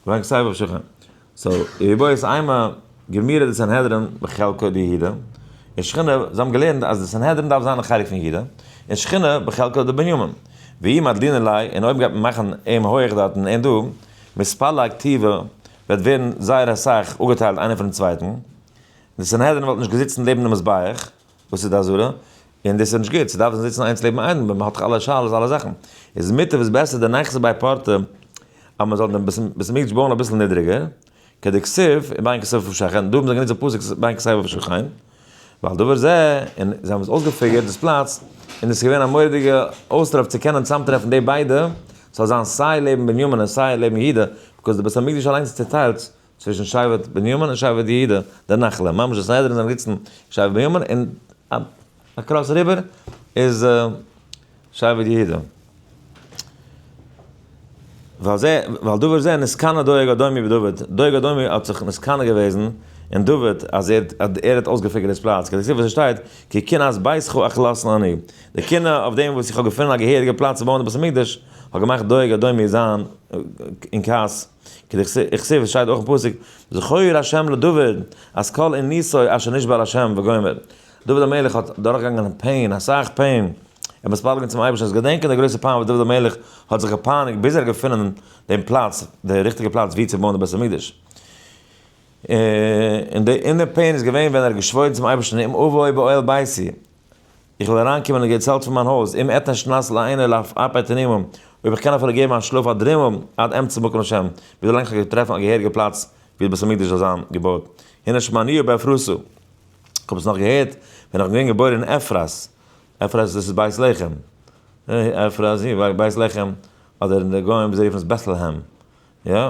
ברענג סייווי אויף שולחן סאו איר בו איז איינמאל געמירעט די סנהדרין בחלקו דיהודה און שכינה זיי האבן געלערנט אז די סנהדרין דארף זיין א חלק פון יהודה און שכינה בחלקו דבנימין והיא מדלינא ליה און אויב גייט מען מאכן אים הויעך דארטן און דא מספר לכתיבה וועט ווערן זייער אסאך אפגעטיילט איינער פונעם צווייטן די סנהדרין וואלט נישט געזיצן לעבן די מזבח. וואס איז די אזהרה? און דאס איז נישט גוט, ס'דארף זיין זיצן איינס לעבן איינעם, מ'האט דאך אלע שאלות אלע זאכן, איז מוטב איז בעסער די נייעס איז ביי פארטע אז מען זאל דעם בית המקדש בויען אביסל נידריגער, כדכסוף אין בעין כסוף ופשחין, דא האבן זיי גענוצט די פסוק בעין כסייפה ופשחין, ועל דבר זה, און זיי האבן עס אויסגעפיגערט דאס פלאץ, און עס איז געווען א מורא'דיגע אויסטער אויף צו קענען צוזאמטרעפן די ביידע, ס'זאל זיין סיי לעבן בנימין און סיי לעבן יהודה, ביקאוז די בית המקדש אליינס איז צוטיילט, צווישן שבט בנימין און שבט יהודה די נחלה, ממש די סנהדרין זענען געזיצן שבט בנימין און אקראס אריבער איז שבט יהודה. ועל זה, ועל דבר זה נשקנה דואג אדומי בדוד, דואג אדומי האט זיך משכנע געוועזן אין דוד אז ער האט ער האט אויסגעפיגערט דאס פלאץ, כדעקסיב וואס עס שטייט כי קנאת ביתך אכלסנה אני, די קנאה אויף דעם וואס איך האב געפונען א געהעריגע פלאץ צו בויען די בית המקדש האט געמאכט דואג אדומי זיין אין כעס, איך זעה וואס שטייט אויך אין פסוק, זכור ה' לדוד אז כל עניסו אשר נשבע לה' וגומר, דוד המלך האט דורכגעגאנגען פעין, אסאך פעין, ער מוז פאלגן צום אייבערשטן, זאלסט געדענקען די גרויסע פיין וואס דוד המלך האט זיך געפייניגט ביז ער האט געפונען דעם פלאץ, די ריכטיגע פלאץ ווי צו בויען די בית המקדש, און די פעין איז געווען ווען ער האט געשוואוירן צום אייבערשטן אם אבוא באוהל ביתי, איך וויל אריינקומען און געצעלט פון מיין הויז, אם אתן שנת לעיני לאף אפי תנימום, אויב איך קען אפילו געבן א שלאף א דרימל עד אמצע מקום השם, ווי דערלאנג איך קען טרעפן א געהעריגע פלאץ ווי די בית המקדש זאל זיין געבויט, הנה שמעניהו באפרתו. איך האב עס נאך געהערט ווען איך בין געווען געבוירן אין אפרת, אפרת דאס איז בית לחם, אפרת, בית לחם, אדער די גוים זיי רופן עס בעטלעהעם, יא,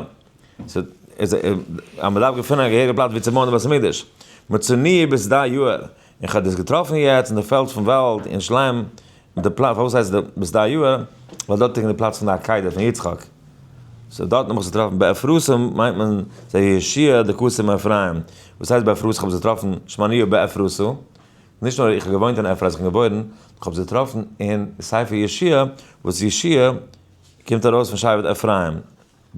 ס'וועט, איז ער, אז מען דארף געפינען א געהעריגע פלאץ ווי צו בויען די בית המקדש, מוצאי ביז די יאהר, און כ'האב דאס געטראפן יעצט אין די פעלד פון וואלד אין שלם, די פלאץ, פארוואס הייסט עס ביז די יאהר, ווייל דארט ליגן די פלאץ פון די עקידה פון יצחק, סאו דארטן האב איך עס געטראפן, באפרסים מיינט מען זיי ישעי' די קסם אפרים, וואס הייסט באפרסים, כ'האב עס געטראפן שמעניא באפרסא, נישט נאר איך האב געוואוינט אין אפרים אז איך בין געבוירן, כ'האב עס געטראפן אין ספר ישעי' וואס ישעי'. קומט ארויס פון שבט אפרים,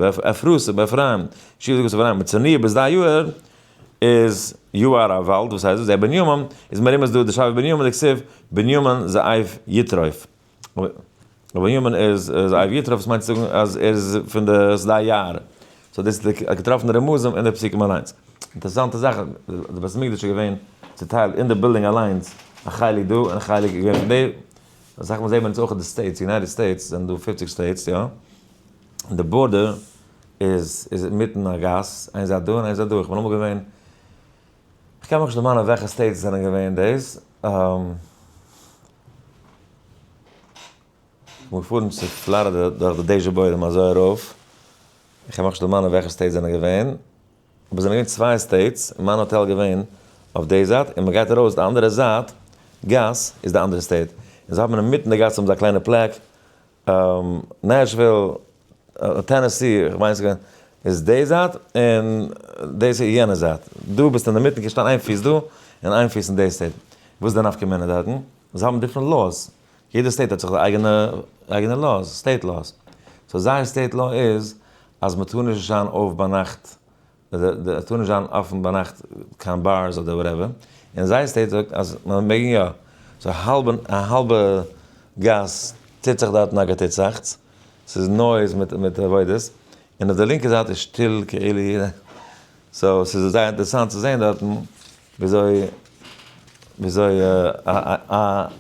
אפרסה באפרים, שבט גוש אפרים, מצרניא ביז דיי יאהר איז יאהר א וואלד, וואס הייסט דאס? דער בנימין איז מרומז דא דער שבט בנימין דכתיב בנימין זאב יתרוף, דער בנימין איז זאב יתרוף וואס מיינט צו זאגן אז ער איז פון די זדיי יאהר, סאו דאס איז די געטראפענע רמזים אין די פסוקים אליינס, אינטערעסאנטע זאך די בית המקדש איז געווען צוטיילט אין די בילדינג אליינס א חלק דא און א חלק געווען פון די. אסאך מאל זעהט מען עס אויך אין די סטעיטס, יונייטעד סטעיטס זענען דא פופציג סטעיטס יא, און די בארדער איז איז אינמיטן א גאס, איין זייט דא און איין זייט דא, איך בין אמאל געווען, איך קען מיך נישט דערמאנען וועלכע סטעיטס עס זענען געווען דאס, כ'בין געפארן צו פלארידע דורך די דעזשע בוידעם אזוי ארויף, איך קען מיך נישט דערמאנען וועלכע סטעיטס עס זענען געווען. אבער עס זענען געווען צוויי סטעיטס און מיין האטעל געווען אויף די זייט און מען גייט ארויס די אנדערע זייט גאס איז די אנדערע סטעיט און זיי האבן אינמיטן די גאס האבן זיי א קליינע פלעק נעשוויל טענעסי כ'מיין איז די זייט און דאס איז יענע זייט דא ביסטו אינמיטן קענסט שטיין איין פיס דא און איין פיס אין די סטעיט וואס איז די נפקא מינה דארטן זיי האבן דיפרענט לאוס יעדע סטעיט האט זיך די אייגענע אייגענע לאוס, סטעיט לאוס. סאו זייער סטעיט לאו איז אז מען טאר נישט זיין אויף ביינאכט, עס טאר נישט זיין אפען ביינאכט קיין בארס אדער וואטעווער, און זייער סטעיט זאגט אז מען מעג יא. סאו האלב און א האלבע גאס טוט זיך דארטן א געטוצעכטס, ס'איז נויז מיט מיט עבודות, און אויף די לינקע זייט איז שטיל כאילו יעדער. סאו ס'איז זייער אינטערעסאנט צו זעהן דארטן וויאזוי וויאזוי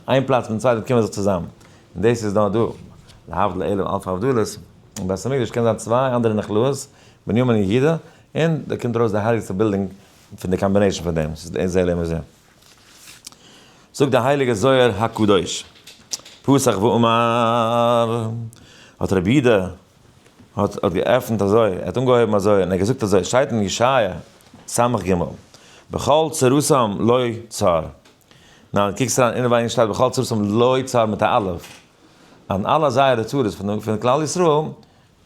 איין פלאץ מיטן צווייטן קומען זיך צוזאם, און דאס איז נאר דא, להבדיל אלף אלפי הבדלות, אין בית המקדש קען זיין צוויי אנדערע נחלאות, בנימין און יהודה, און דא קומט ארויס די הייליגסטע בילדינג פון די קאמבינעישן פון דעם, ס'איז די זה לעומת זה. זאגט די הייליגע זוהר הקדוש, פסח ואמר, האט רבי יהודה האט האט געעפנט אזוי, ער האט אנגעהויבן אזוי און ער האט געזאגט אזוי, שטייט אין ישעיה ס' ג, בכל צרתם לא צר, ניין קוקסט אריין אינעווייניג שטייט בכל צרתם לא צר מיט א א', און אלע זייערע צרות פון פון כלל ישראל,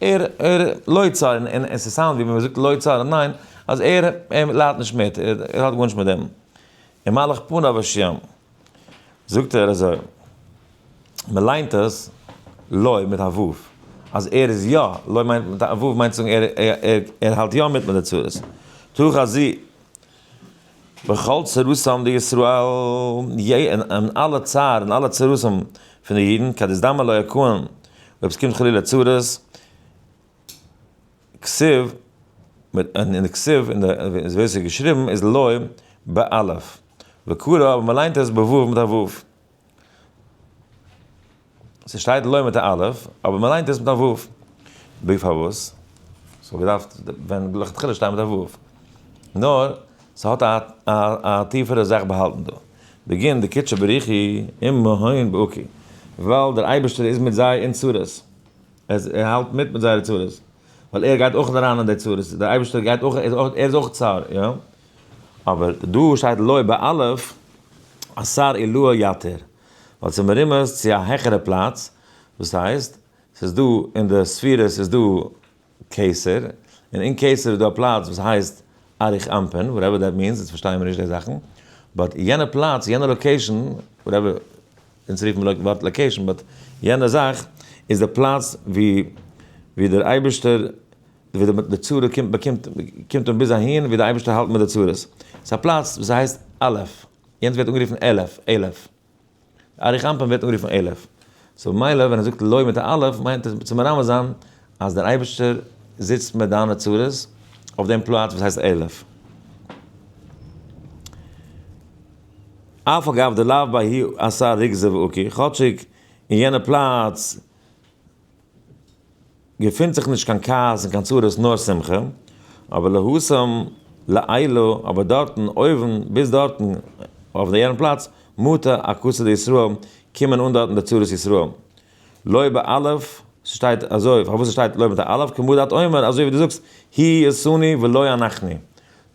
ער ער לא צר, און און עס סאונד ווי ווען מען זאגט לא צר עדיין, אז ער ער ליידט נישט מיט, ער האט גארנישט מיט דעם, און מלאך פניו ה'. זאגט ער אזוי, מען ליינט עס לוי מיט א וו, אז ער איז יא, לוי מיינט מיט א וו מיינט צו זאגן ער ער האלט יא מיט מיט די צרות, תוך הזו בכל צרתם דישראל, אין אלע צער און אלע צרותים פון די אידן, כדסדמא לוי הכהן אויב עס קומט חלילה צרות, כסיב, מיט אן אין די כסיב אין די ווי אזוי עס איז געשריבן איז לוי באלף, וקרא אבער מען ליינט עס בוואוו מיט א וואוו. ס'שטייט לוי מיט א אלף, אבער מען ליינט עס מיט א וואוו. ב פארוואס ס'וואלט געדארפט ווען לכתחילה שטיין מיט א וואוו? נאר ס'האט א א א טיפערע זאך באהאלטן דא. בגין דקידשא בריחי, עמהון בעוקי. ווייל דער אייבערשטער איז מיט זיי אין צרות. אז ער האלט מיט מיט זייערע צרות, ווייל ער גייט אויך אריין אין די צרות, דער אייבערשטער גייט אויך, ער איז אויך צר, יא? אבער דא שטייט לוי' באלף, אסר עילאה יתר, ווייל ס'איז מרומז צו א העכערע פלאץ, וואס הייסט, ס'איז דא אין די ספירות איז דא קיסר, און אין קיסר איז דא א פלאץ וואס הייסט אריך אנפין, וואטעווער דעט מינס, אונז פארשטייען מיר נישט די זאכן, באט יענע פלאץ, יענע לאקעישאן, וואטעווער, אונז רופן לויטן ווארט לאקעישאן באט יענע זאך איז די פלאץ ווי ווי דער אייבערשטער ווי די צורה קומט באקומט קומט אן ביז אהין ווי די אייבערשטער האלט מיט די צרות ס'איז א פלאץ וואס הייסט אלף יענץ ווערט אנגערופן אלף אלף אריך אנפין ווערט אנגערופן אלף סאו ממילא ווען ער זאגט לוי מיט א אלף מיינט עס צו מרמז זיין אז דער אייבערשטער זיצט מיט דיינע צרות אויף דעם פלאץ וואס הייסט עלף. אף אגב דלאו ביי הי' עשה ריכזה ואוקי, כאטשיג אין יענע פלאץ געפינט זיך נישט קיין כעס און קיין צרות נאר שמחה, אבער להשם לעילא אבער דארטן אויבן ביז דארטן אויף יענע פלאץ מטה א כסא דישראל קומען אן דארטן די צרות ישראל לוי' באלף, ס'שטייט אזוי, פארוואס ס'שטייט לוי' מיט א אלף, כמו דאתו אומר, אזוי ווי דו זאגסט, היא עשני ולא אנחני,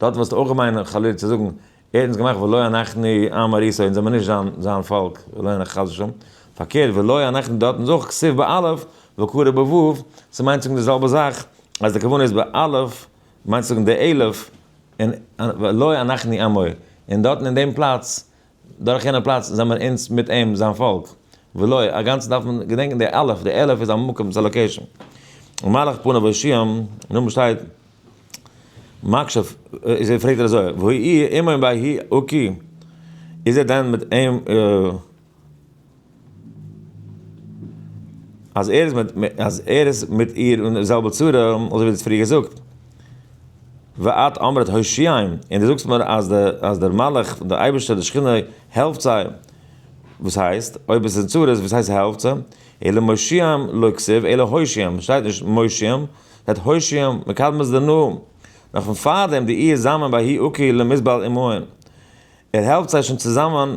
דארט וואלסטו אויך מיינען חלילה צו זאגן, ער האט אונז געמאכט ולא אנחני עם אריסו, אונז זעמיר נישט זיין פאלק, ולא אנחני חס ושלום, פארקערט ולא אנחני דארטן איז אויך כסוף באלף, וקרא בוואוו, ס'מיינט צו זאגן די זעלבע זאך, אז די כוונה איז באלף, מיינט צו זאגן די אלף, און ולא אנחני עמו, און דארטן אין דעם פלאץ, דורך יענע פלאץ זעמער אונז מיט אים זיין פאלק, ולא א גאנצע דארף מען געדענקן די אלף, די אלף איז א מקום, ס'איז א לאקעישאן, ומלך פניו הושיעם, און אויבן שטייט מקשף, איז ער פרעגט ער אזוי, והאי עמהם בהאי עוקי, איז ער דען מיט אים. אז ער איז מיט איר אין די זעלבע צרה, אזוי ווי דו האסט פריער געזאגט, ואת אמרת הושיעם, און דו זאגסט מיר אז דער מלאך פון די אייבערשטער די שכינה העלפט זיי, וואס הייסט, אויב עס איז אין צרות וואס הייסט העלפט זיי, אלא מושיעם, לא כסיב אלא הושיעם, שטייט נישט מושיעם, שטייט הושיעם, מקדמת דנא, נאך פון פארדעם די איר זאמען בהאי עוקא למזבלה עמהם, ער העלפט זיי שוין צוזאמען.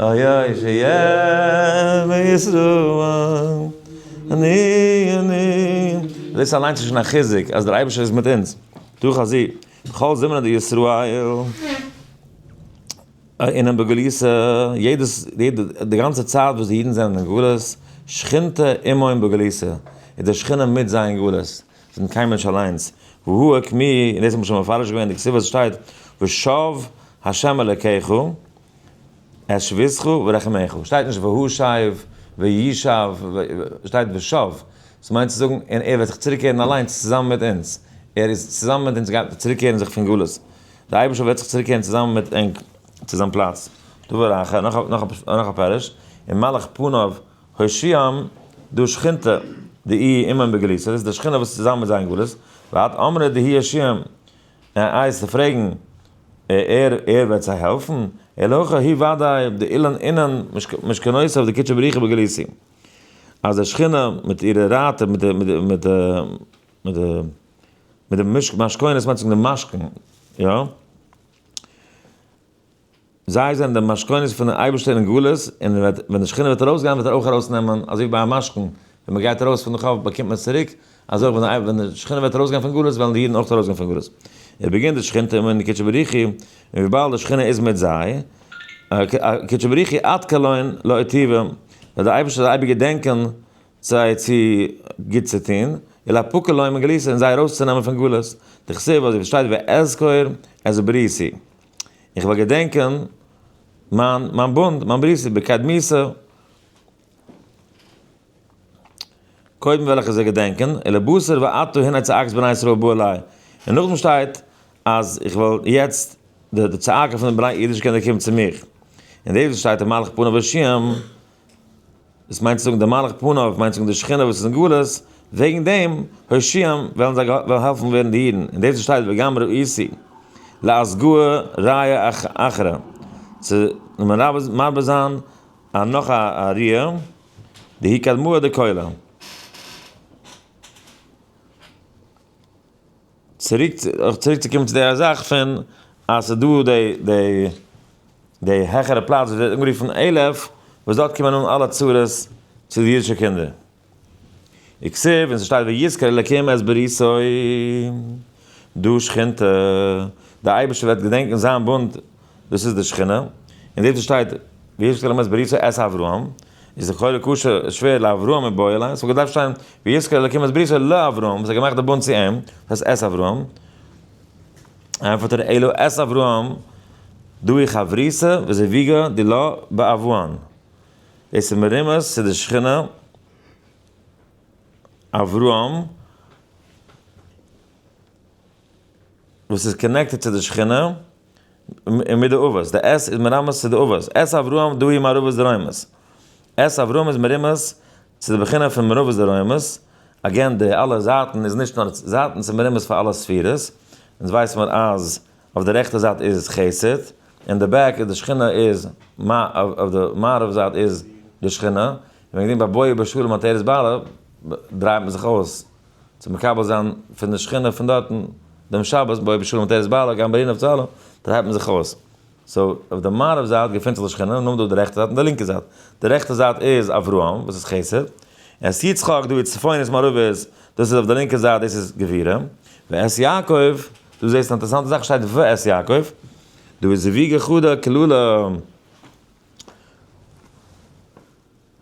איה ש יהיה וישרור אני אני. דאס אליינס איז שוין א חיזוק אז דער אייבערשטער איז מיט אונז דורך א זיג בכל זמנא דישראל אינם בגלותא, יעדעס יעדע די גאנצע צייט וואס די אידן זענען אין גלות, שכינתא עמם בגלותא, איז די שכינה מיט זיי אין גלות, זיי זענען קיין מענטש אליינס, והוא ק מ, און דאס האט מען שוין מפרש געווען אין די כתובות שטייט ושב ה' אלקיך, אש וזכו ורחמיך, שטייט נישט והשיב, וישב, שטייט ושב, עס מיינט צו זאגן און ער וועט זיך צוריק קערן אליינס צוזאמען מיט אונז, ער איז צוזאמען מיט אונז גייט צוריק קערן זיך פון גלות, דער אייבערשטער וועט זיך צוריק קערן צוזאמען מיט ענק צו זיין פלאץ, דבר אחר, נאך א פירוש, און מלאך פניו הושיעם, דא שכינתא דהי' עמם בגלותו, דאס איז די שכינה וואס איז צוזאמען מיט זיי אין גלות, ועד אמרי דהי' הושיעם, אה איי צו פרעגן ער ער וועט זיי העלפן? אה לכה הי' וודאי די אילן אינן משכנותיו די קודשא בריך הוא בגליסי אז די שכינה מיט אירע רייטער מיט די מיט מיט די מיט די מיט די משכונות מיינט צו זאגן די משכון יא. זיי זענען די משכונות פון דעם אייבערשטער אין גלות, און ווען די שכינה וועט ארויסגיין וועט ער אויך ארויסנעמען, אזוי ווי ביי א משכון, ווען מען גייט ארויס פון די חוב באקומט מען עס צוריק, אזוי אויך ווען די שכינה וועט ארויסגיין פון גלות וועלן די אידן אויך ארויסגיין פון גלות. עס באגינט די שכינתא און די קודשא בריך הוא, און וויבאלד די שכינה איז מיט זיי, קודשא בריך הוא עד כלעין לא איתיבם, וועט דער אייבערשטער זיי אייביג געדענקען זיי צו גוט צו טון, ולהפקר להם מגלותא און זיי ארויסצונעמען פון גלות, דכתיב אזוי ווי עס שטייט ואזכור את בריתי. איך וועל געדענקען מיין מיין בונד, מיין ברית בקדמיסא. קודם וועל איך עס זיי געדענקען, אלה בשר ואתו הנה צעקת בני ישראל בא אלי. און נאכדעם שטייט אז איך וועל יעצט, די צעקה פון די בני אידישע קינדער קומט צו מיך. און דאס וואס שטייט אין מלאך פניו ה' דאס מיינט צו זאגן די מלאך פניו מיינט צו זאגן די שכינה וואס איז אין גלות, וועגן דעם הושיעם וועלן זיי וועלן העלפן ווערן די אידן, און דאס וואס שטייט וגם ראיתי לאסגור ראיה אחרא, צו מרבה זיין א נאך א ראיה, דהי קדמוה דקולא. צוריק צוריק צו קומען צו די זאך פון אז ס'איז דא די די די העכערע פלאץ וואס ווערט אנגערופן עילעף וואס דארט קומען אן אלע צרות צו די אידישע קינדער וכסף און ס'שטייט ויזכור אלקים את בריתו דא שכינתא די אייבערשטער וועט געדענקן זיין בונד דאס איז די שכינה, און דאס שטייט ויזכר אלוקים את בריתו את אברהם, איז לכאורה קשה שווער לאברהם מיט בועל, עס וואלט געדארפט שטיין ויזכר אלוקים את בריתו לאברהם, וואס האט געמאכט די בונד צו אים, דאס הייסט את אברהם, ענפערט ר' אלו את אברהם דאהי חברותא וזיוויגא דילא באברהן, דאס איז מרומז צו די שכינה אברהם, וואס איז קאנעקטעד צו די שכינה. און מיט די אבות, די עס איז מרמז צו די אבות, עס אברהם דאהי מערבות דרומות, עס אברהם איז מרומז צו די בחינה פון מערבות דרומות, אגעין די אלע זייטן איז נישט נאר זייטן ס'איז מרומז פאר אלע ספירות, אונז ווייס מיר אז אויף די רעכטע זייט איז חסד, אין די בעק איז די שכינה איז אויף די מערב זייט איז די שכינה, און וועגן דעם ביי בואי בשלום התרס ב דרייט מען זיך אויס. צו מקבל זיין פון די שכינה פון דארטן דעם שבת בואי בשלום תרס ב אלא גם בלינה וצהלה, דארט הייבט מען זיך אויס, סאו אויף די מערב זייט געפונט זיך די שכינה, און נאכדעם אויף די רעכטע זייט און די לינקע זייט, די רעכטע זייט איז אברהם וואס איז חסד, און עס יצחק דא איז צפונית מערבית, דאס איז אויף די לינקע זייט דאס איז גבירה, ואת יעקב, דא זעסטו אן אינטערעסאנטע זאך שטייט ואת יעקב, דא איז זיוויגה חדה קללה.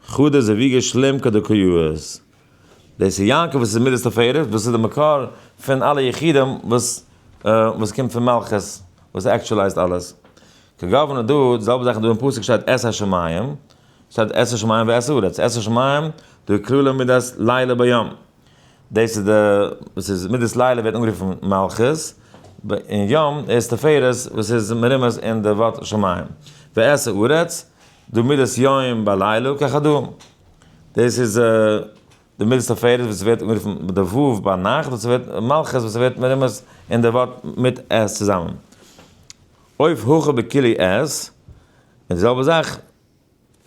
חדא זה ויגע שלים כדקויאות. דאס איז יעקב וואס איז מידת תפארת, דאס איז די מקור פון אלע יחידים וואס וואס קומט פון מלכות, וואס עקטשעלייזט אלעס. כגוונא דא, די זעלבע זאך דא אין פסוק שטייט עשה שמים, שטייט עשה שמים ועשה ארץ, עשה שמים, דהוי כלולא מידת לילה ביום. דאס איז די וואס איז מידת לילה ווערט אנגערופן מלכות, און יום איז תפארת וואס איז מרומז אין די ווארט שמים. ועשה ארץ, דו מידת יום ביי לילה ככדו'. דאס איז די מידת תפארת וואס ווערט אנגערופן מיט די ו' ביי נאכט וואס ווערט מלכות וואס ווערט מרומז אין די ווארט מיט עס צוזאמען. עוף הכה בכלי עז, די זעלבע זאך.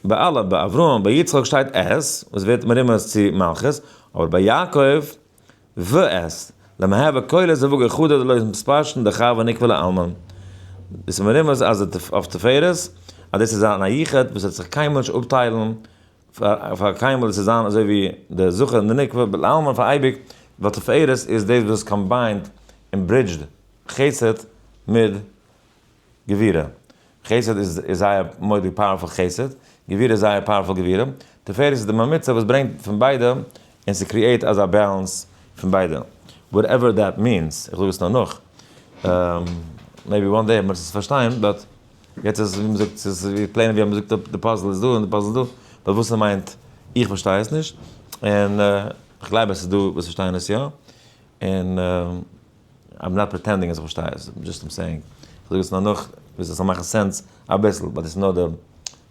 ביי אלע, ביי אברהם, ביי יצחק שטייט עז, וואס ווערט מרומז צו מלכות, אבער ביי יעקב, ו עז, למהווה כולל זיווג אחד עד לויטן פשט אין די חב א נקבע לעלמא, דאס איז מרומז אז אויף תפארת, אז דאס איז זיין א יחוד וואס וועט זיך קיינמאל נישט אפטיילן פאר קיינמאל, דאס איז זיין אזוי ווי דער זכר אין די נקבה, לעלמא פאר אייביג, ווייל תפארת איז דאס וואס קאמביינד און ברידזשד חסד מיט. גבירה, חסד איז זייער מורא'דיג פאוערפול חסד, גבירה איז זייער פאוערפול גבירה, תפארת איז די ממוצע וואס ברענגט פון ביידע און ס'קריעט אזא בעלענס פון ביידע, וואטעווער דעט מיענס, איך זאג עס נאר נאך, מעיבי וואן דעי וועט מען עס פארשטיין, באט יעצט איז ווי מ'זאגט ס'איז ווי פלעין ווי אז מ'זאגט אפ די פאזל איז דא און די פאזל איז דא, באט וואס ס'מיינט איך פארשטיי עס נישט, און כ'גלייב אז ס'איז דא וואס פארשטייען עס יא, און. איים נאט פריטענדינג אז איך פארשטיי עס, דזשאסט איים סעיאינג, איך זאג עס נאר נאך ביז עס זאל מאכן סענס אביסל, ווייל דאס איז נאר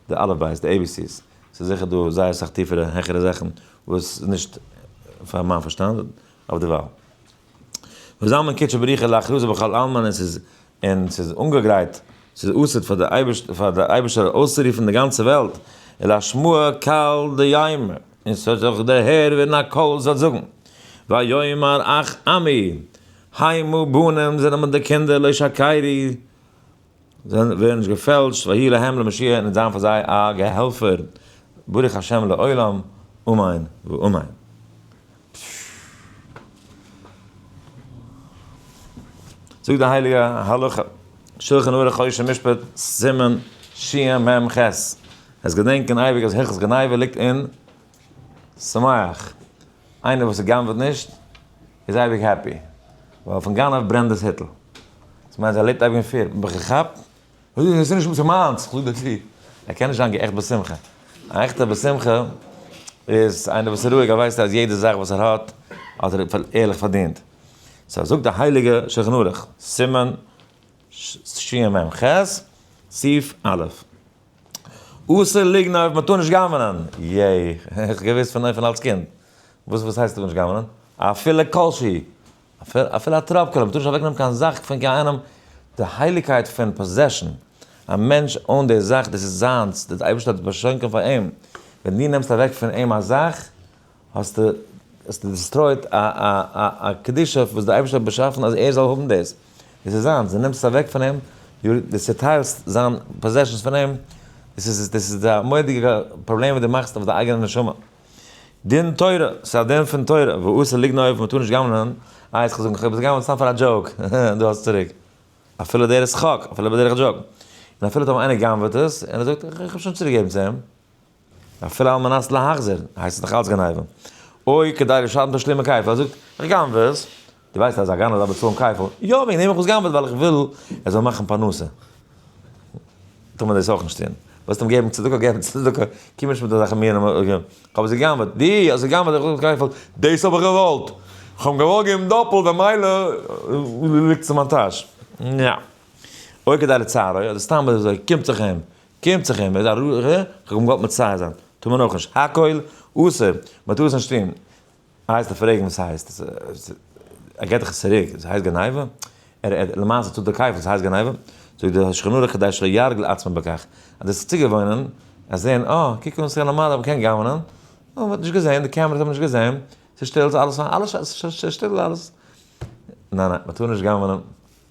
די אלף בית, די עי בי סי'ס, ס'איז זיכער דא זייער סאך טיפערע העכערע זאכן וואס איז נישט פאר מיין פארשטאנד אויף דערווייל. ווי זאל מען קוטשען בריחה להכרזה בכל עלמא און ס'איז און ס'איז אנגעגרייט, ס'איז אסר'ט פאר די אייבערשטער אויסצורופן די גאנצע וועלט, אלא שמועה קל דיימא. און ס'האט זיך דערהערט ווען א קול זאל זאגן, ויאמר אך עמי, הוי מה בנים, זענען מיט די קינדער, לא שקרי, זיי ווערן נישט געפעלשט, ויהי להם למשיח, און עס זיין פאר זיי א געהעלפער, ברוך השם לעולם, אמן ואמן. זאגט די הייליגע הלכה, שלחן ערוך חושן משפט, סימן שמ ח, עס געדענקען אייביג אז הלכות גניבה ליגט אין שמח, איינער וואס גנב'ט נישט איז אייביג העפי, ווייל פון גנב ברענט דאס היטל, דאס מיינט אז ער לעבט אייביג אין פיער, בין איך געכאפט? עס איז נישט אונזער מיינס, כ'זאג דיר צו, ער קען נישט זיין געעכט בשמחה, א עכטע בשמחה איז איינער וואס איז רואיג, ער ווייסט אז יעדע זאך וואס ער האט, האט ער ערליך פארדינט, סא זאגט די הייליגע שלחן ערוך, סימן שע מ ח, סעיף א'. אסור ליגנען אויב מ'טאר נישט גנב'נען. יעי, איך געוויסט פון אויפן אלס קינד. וואס וואס הייסט טאר נישט גנב'נען? אפילו כל שהיא. אפילו א טראפ קאליר, מ'טאר נישט אוועקנעמען קיין זאך פון קיין איינעם. די הייליגקייט פון פאזעשן. א מענטש אן די זאך, דאס איז זיינס, דער אייבערשטער האט עס באשאנקען פאר אים. ווען דו נעמסט אוועק פון אים א זאך. האסטו דיסטרויט א קדושה וואס דער אייבערשטער האט באשאפן אז ער זאל האבן דאס, דאס איז זיינס, דו נעמסט עס אוועק פון אים, דו צעטיילסט זיין פאזעשענס פון אים, דאס איז א מורא'דיגע פראבלעם וואס דו מאכסט אויף דיין אייגענע נשמה. דין תורה, ס'איז א דין פון תורה, ואסור לגנוב, מען טאר נישט גנב'נען, איי האסט געזאגט איך האב עס גע'גנב'ט סתם פאר א דזשאוק, דא האסטו צוריק, אפילו דער איז שחוק, אפילו בדרך דזשאוק, און אפילו האט אים איינער גע'גנב'עט עס, און ער זאגט איך האב שוין צוריקגעגעבן צו אים, אפילו על מנת להחזיר, הייסט עס נאך אלץ גניבה. אוי כדי לשלם תשלומי כפל, ער זאגט, איך גנב'ע עס. דו ווייסט אז א גנב דארף באצאלן כפל? יא, וועגן דעם האב איך עס גנב'עט, ווייל איך וויל ער זאל מאכן פרנסה. טאר מען דאס אויך נישט טון. ווילסט אים געבן צדקה, געב אים צדקה. קום נישט מיט אזעלכע מינים. איך האב עס געגנב'עט. דו האסט געגנב'עט איך זאג כפל. דאס האב איך געוואלט. איך האב אים געוואלט געבן דאפלט, במילא ליגט עס אין מיין טאש. ניין. אוי כדי לצערו, אדער סתם אזוי קומט זיך אים. קומט זיך אים, ער איז א ר ר, כ'האב אים געוואלט מצער זיין, טאר מען אויך נישט, הכל אסור, מען טאר עס נישט טון, הייסט דער פרעגן וואס הייסט, ער געט דאך עס צוריק, דאס הייסט גניבה? ער ער למעשה טאר דערקייפן, דאס הייסט גניבה? זאגט דער שולחן ערוך כדי שלא יהרג לעצמו בכך, אז דאס איז צוגעוואוינען, אז זעהן אה, קוק אן ס'איז א נארמאלער וואס קען גנב'נען, און מען האט נישט געזעהן, די קעמערעס האבן נישט געזעהן, ס'איז שטיל, ס'איז אלעס פיין, אלעס ש ש שטיל אלעס, ניין ניין, מען טאר נישט גנב'נען.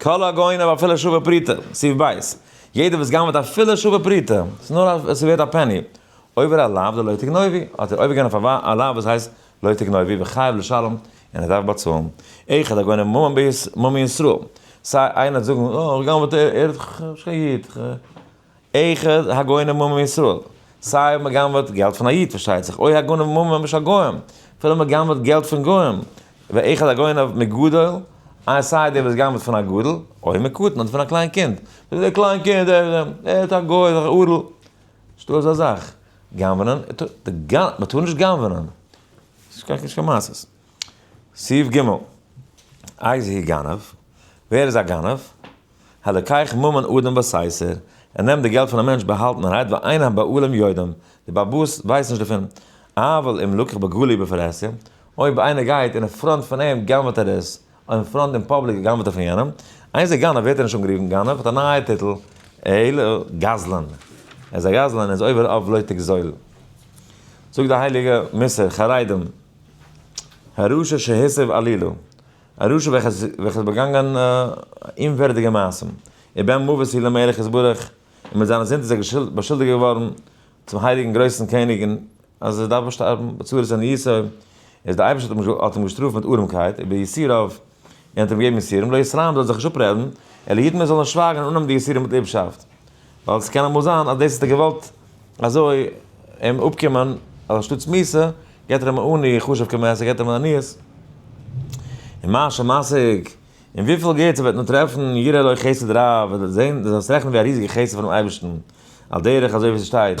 כל הגוין אויף אפילו שווה פרוטה, סעיף ב', יעדער וואס גנב'עט אפילו שווה פרוטה, ס'איז נאר אז ס'איז ווערט א פעני, עובר על לאו דלא תגנובי, האט ער עובר געווען אויף א לאו וואס הייסט לא תגנובי וחייב לשלם, און ער דארף באצאלן, אחד הגונב מום מישראל, סיי איינער האט זאגן, אה, ער גנב'עט, ער איז נישט קיין איד, איחוד הגוינים ועמם ישראל, סיי אויב מען גנב'עט געלט פון א איד פארשטייט זיך, אוי הגנב ממון משא גוים, אפילו מען גנב'עט געלט פון גוים, ואחד הגונב מגדול, איי סיי דער וואס גנב'עט פון א גדול, אוי מקטן אדער פון א קליין קינד, וואס איז דער קליין קינד, ער איז א גוי, איז דאך אדל, נישטא אזא זאך, גנב'נען, מען טאר נישט גנב'נען, ס'נישט קיין מעשה'ס. סעיף ג' איז הי גנב, ווער איז א גנב? הלקח ממון אדם בסייסער, ער נעמט די געלט פון א מענטש באהאלטענערהייט ואין הבעלים יודעים, די באבוס ווייסן נישט דערפון, אבל אם לקח בגלוי בפרהסיא, אויב איינער גייט און אין פראנט פון אים גנב'ט ער עס, אויב אין פראנט אין פאבליק גנב'ט ער פון יענעם, איז ער גנב, ווערט ער נישט אנגערופן גנב, האט א נייע טיטל, אלא גזלן, ער איז א גזלן, ער איז עובר עוולה לא תגזול. זאגט די הייליגע מוסר, חרדים, א רשע שהסב עלילא, א רשע וועלכער האט באגאנגען אומווערדיגע מעשים, ובהם מוות היא למלך יתברך, און מיט זיינע זינד איז ער באשולדיגט געווארן צום הייליגן גרויסן קעניג אז ער דארף באשטארבן בצורת עניותו, איז דער אייבערשטער האט אים געשטראפט מיט ארעמקייט, וביסורו. און האט אים געגעבן יסורים, לא ישראם זאל זיך נישט אפרעדן, אלא יתן מען זאל אים שווייגן און אננעמען די יסורים מיט ליבשאפט, ווייל עס קען אמאל זיין אז דאס האט ער געוואלט אזוי אים אפקומען, אז אנשטאט סמיסע, געבט ער אים א עני חשוב כמעט, ער געבט אים א עניית. און מה שמשיג, און וויפיל גוטס ער וועט נאר טרעפן, יראה לו חסד רב, וועט ער זען, דאס וועט זיך רעכענען ווי א ריזיגע חסד פונעם אייבערשטן, על דרך אזוי ווי ס'שטייט.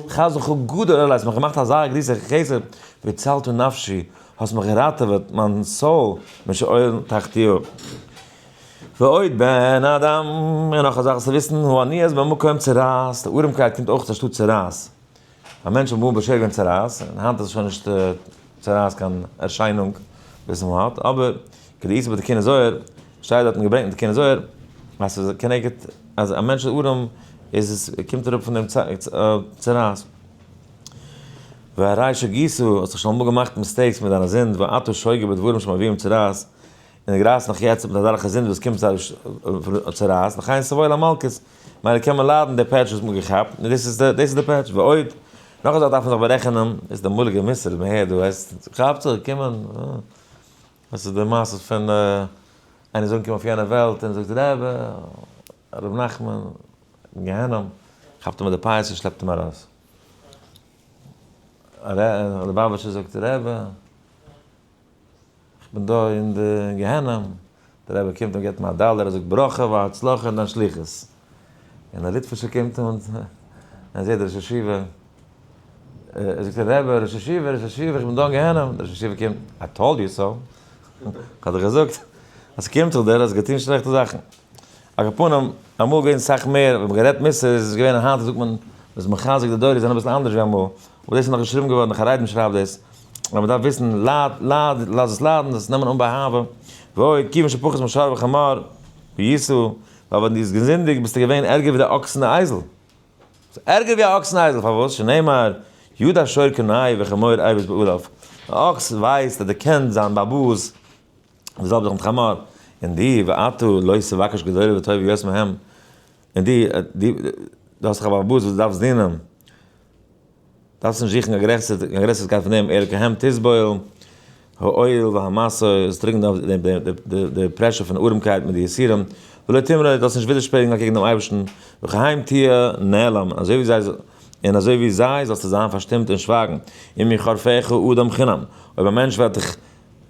חזו ח גדול עליי האסט מיך געמאכט אזא גריסע חסד והצלת נפשי האסט מיך געראטעוועט מיין סאול משאול תחתיו ועוד בן אדם און נאך אזאלכע צו וויסן הוא עני אז במקום צרעת די ארעמקייט קומט אויך אנשטאט צרעת א מענטש האט ב ה בשער געווען צרעת און היינט איז שוין נישט צרעת קיין ערשיינונג וואס מען האט אבער כדי איז בתקין הזוהר, שטייט דארטן געברענגט אין תקין הזוהר, אז ס'איז א כנגד אז א מענטש איז ארעם איז עס קומט אראפ פון דעם צרעת. והריי שגיסו, האסט זיך שוין אמאל געמאכט מיסטעיקס מיט דיינע זינד ואתה שוגה בדברים שמביאים צרעת, און די גרייסט נאך יעצט מיט אזעלכע זינד וואס קומט צרעת, לכן איז סבוי למלקות, מילא קען מען ליידן די פעטש וואס מ'האט געכאפט, און דאס איז דאס איז די פעטש, ועוד, נאך א זאך דארף מען זיך בארעכענען, איז די אמאליגע מוסר מהר ד, כאפצעך געקומען. דאס איז די מעשה פון איינער איז אנגעקומען אויף יענע וועלט און זאגט רעבע, הרב נחמן, גיהנום, כאפט אים מיט די פייס און שלעפט אים ארויס. ליבאוויטשער זאגט רעבע, איך בין דא אין די גיהנום, די רעבע קומט און געבט אים א דאלער, ער זאגט ברכה והצלחה און דיין שליחות. און א ליטווישער קומט אן און זעט די ראש ישיבה, ער זאגט אים רבי, ראש ישיבה, ראש ישיבה, איך בין דא אין גיהנום, דער ראש ישיבה קומט, איי טאלד יו סאו, כ'האב דיר געזאגט אז ס'קומט זיך דיר אז געטון שלעכטע זאכן, על כל פנים, אמאל איז געווען סאך מער, מ'האט גערעדט מוסר, איז עס געווען, היינט זאגט מען, מ'איז מחזק די דורות זענען אביסל אנדערש ווי אמאל, אבער דאס איז נאך געשריבן געווארן, נאך א רייבן שרייבט דאס, אז מ'דארף וויסן, לייד, לייד, לאז עס ליידן, זאל עס נעמען אן באהבה, ועוד, כיוון שפחות משאר וחמור, וייסעו, ווייל ווען דו האסט געזינדיגט ביסטו געווען ערגער ווי די אקס און די אייזל. ביסט ערגער ווי א אקס און אייזל, פארוואס? שנאמר, ידע שור קנאי וחמור עיווס בעוריו, א אקס ווייסט אדער קען זיין באבוס וואס זאל זיך מיט חמור, און דו, ואתו לא תבקש גדולה וטובה יוס מהם, און דו, דו האסט דאך א באבוס וואס דו דארפסט דינען. דארפסט נישט זוכן א גרעסערקייט פון דעם, ער כעם תסבול העול והמשא, עס דרוקן אויף די פרעשור פון ארעמקייט מיט די יסורים, ולא תמרוד, דו זאלסט נישט ווידערשפרינגען אקעגן דעם אייבערשטן, וכעם תהיה נעלם, אזוי ווי זיי, און אזוי ווי זיי זאלסטו זיין פארשטומט און שווייגן, אם יחרפך אדם חינם, אויב א מענטש וועט דיך.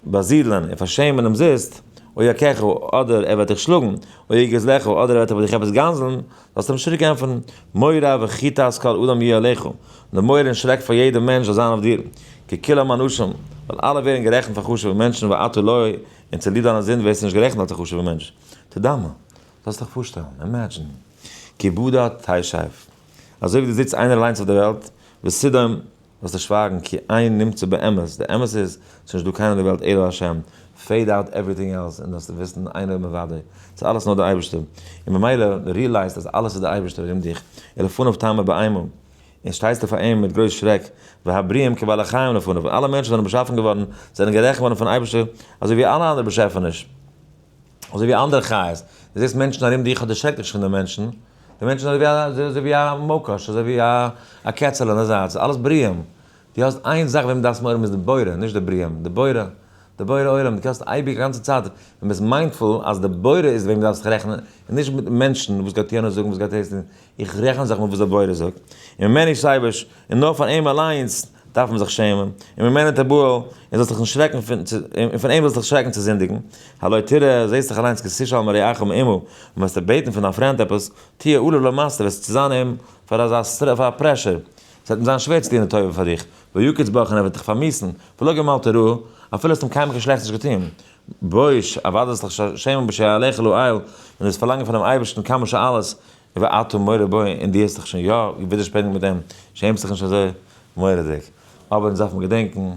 באזידלען און פארשעמען אומזיסט, או יכהו, אדער ער וועט דיך שלאגן, או יגז לך, אדער ער וועט איבער דיך עפעס גנזלן, זאלסטו אים שטריק ענטפערן, מורא וחיטת כל אדם יהיה עליך, די מורא און שרעק פאר יעדער מענטש זאל זיין אויף דיר, כי כולם אנשים, ווייל אלע ווערן גערעכנט פאר חשוב'ע מענטשן ואתה לא, און צוליב דיינע זינד ווערסטו נישט גערעכנט אלס א חשוב'ע מענטש. תדמה, זאלסט דיך פארשטעלן, אימעדזשין, כי בדה תשב, אזוי ווי דו זיצט איינער אליינס אויף דער וועלט, וסדום, וועסטו שווייגן כי אין נמצא באמת, די אמת איז ס'איז נישט דא קיינער אין די וועלט אלא השם, פעיד אוט עווריטינג עלס און דאס וויסן איין און אוודאי, ס'איז אלעס נאר די אייבערשטער, און ממילא די ריעלייזט אז אלעס איז די אייבערשטער ארום דיך, ולפניו תעמוד באימה, און שטייסטו פאר אים מיט גרויס שרעק, והבריאים כבעלי חיים לפניו, אלע מענטשן זענען באשאפן געווארן, זענען גערעכנט געווארן פון אייבערשטער אזוי ווי אלע אנדערע באשעפעניש. אזוי ווי אנדערע חיות, דו זעסט מענטשן ארום דיך אדער שרעק דיך נישט פון די מענטשן, די מענטשן זענען אזוי ווי א מאקאש, אזוי ווי א קעצעלע אין די זייט, ס'איז אלעס בריאים, דו האסט איין זאך וועם דו דארפסט מער האבן איז די בורא, נישט די בריאים, די בורא, די בורא עולם, דו קענסט אייביג א גאנצע צייט, ווען ביסט מיינדפול אז די בורא איז וועם דו דארפסט דיך רעכענען און נישט מיט מענטשן וואס גייט אהן און זאגן וואס גייט אהן, איך רעכן זיך מיט וואס דער בורא זאגט, און מען מער נישט אייבערש, און נאר פאר אים אליינס דארף מען זיך שעמען, און מען מער ניט אבער, און זאלסט דיך נישט שרעקן פון, און פון אים זאלסט דיך שרעקן צו זינדיגן, הלא תראה, זעסט דאך אליינס כי תשאל מרעך אום עמו, און וועסט אים בעטן פון דיין פריינד עפעס, תהיה עלוב למעשה, וועסט צו זיין אים פאר אזא פאר א פרעשור, עס וועט אים זיין שווער צו טון די טובה פאר דיך, ויוקץ בך און ער וועט דיך פארמיסן, ולא גמלת רעה, אפילו האסט אים קיינמאל קיין שלעכטס נישט געטון, בוש, אוודאי זאלסט דיך שעמען בשער אליך לעיל, און דאס פארלאנגען פונעם אייבערשטן כמה שאלות, ואתה מורה בי, און דו האסט דיך שוין יא ווידערשפענגט מיט אים, שעמסט דיך נישט אזוי מורא'דיג. אבער אונז דארף מען געדענקן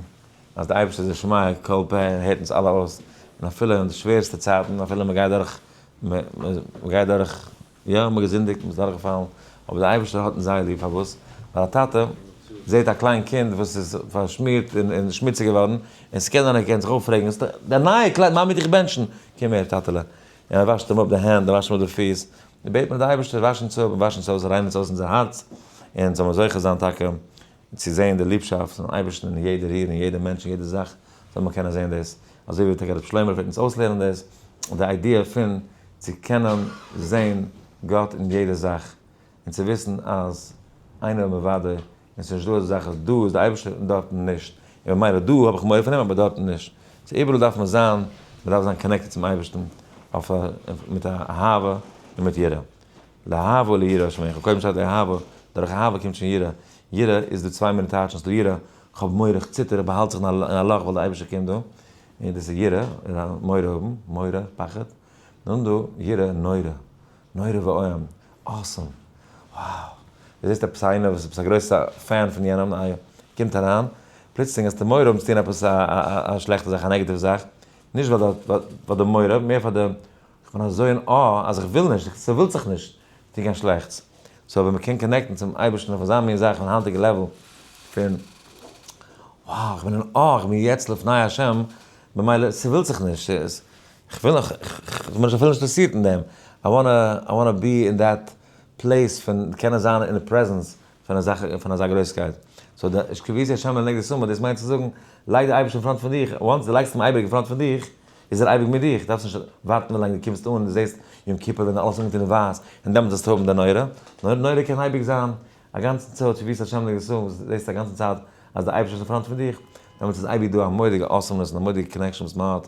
אז דער אייבערשטער איז א שומע כל פה און ער הערט אונז אלע אויס, און אפילו אין די שווערסטע צייטן, אפילו מען גייט דורך, מען גייט דורך, יא, מען האט געזינדיגט, מען איז דורכגעפאלן, אבער דער אייבערשטער האט אונז זייער ליב, פארוואס? ווייל א טאטע זעט א קליין קינד וואס איז פארשמירט און שמוציג געווארן, און ס'קען זיין ער קען זיך אויפרעגן, עס איז דער נייע קלייד, מאמי האט דיך געבענטשן, קום הער טאטעלע, און מען וואשט אים אפ די הענט, און וואשט אים אפ די פיס, און בעט מען די אייבערשטער וואש אונז אפ, און וואש אונז אויס, ריין אונז אויס אונזער הארץ, און זאל מען זוכה זיין טאקע צו זען די ליבשאפט פונעם אייבערשטן אין יעדע ריר, אין יעדע מענטש, אין יעדע זאך, זאל מען קענען זען דאס, אזוי ווי טאקע רבי שלמה פלעגט אונז אויסלערנען דאס, די איידיע פון צו קענען זען גאט אין יעדע זאך, און צו וויסן אז איינער איז מוודא און ס'איז נישט דא אזא זאך אז דא איז די אייבערשטער און דארטן נישט, און במילא דא האב איך מורא פון אים אבער דארטן נישט. ס'איז איבעראל דארף מען זיין, מען דארף זיין קאנעקטעד צום אייבערשטן אויף א מיט א אהבה און מיט יראה. לאהבה וליראה שמעיכון, קודם שטייט לאהבה, דורך אהבה קומט שוין יראה, יראה איז דא צוויי מיני טייטשן, ס'דא יראה, כ'האב מורא, כ'ציטער, כ'באהאלט זיך אין א לאך ווייל די אייבערשטער קומט דא, און דאס איז יראה, מורא האבן, מורא, פחד, און דא יראה נורא, נורא ואיום, awesome, wow, די זעסט עפעס איינער וואס איז עפעס א גרויסע פען פון יענעם איי קומט אריין, פלוצלינג האסטו מורא האבן צו טון עפעס א א שלעכטע זאך א נעגעטיוו זאך, נישט ווייל די ווייל די מורא, מער פאר די איך בין אזוי אין awe אז איך וויל נישט, ס'ווילט זיך נישט טון קיין שלעכטס, סאו ווען מ'קען קאנעקטן צום אייבערשטן אויף אזא מין זאך און היינטיגע לעוול פון wow איך בין אין awe איך בין יעצט לפני השם, ממילא ס'ווילט זיך נישט, כ'וויל נאך, כ'בין נישט אפילו אינטערסירט אין דעם, איי וואנט איי וואנט בי אין דעט פלעיס פון קענען זיין אין די פרעזענס פון אזא פון אזא גרויסקייט, סאו די איש כביסי השמים לענ ג די סומא, דאס מיינט צו זאגן, לייג די אייבערשטן אין פראנט פון דיך, וואנס די לייגסט אים אייביג אין פראנט פון דיך, איז ער אייביג מיט דיך, דארפסט נישט ווארטן ווילאנג די קומסט אן, די זעסט יום כיפור ווען אלעס אנגעטון אין ווייס, און דעמאלטס וועסטו האבן די נורא, נאר נורא קען אייביג זיין, אגאנצן צו איש כביסי השמים לענ ג די סומא, וואס זעסט אגאנצן צייט אז די אייבערשטער איז אין פראנט פון דיך, דעמאלטס איז אייביג דא א מודיגע אסאמנעס און א מודיגע קאנעקשאן וואס מ'האט,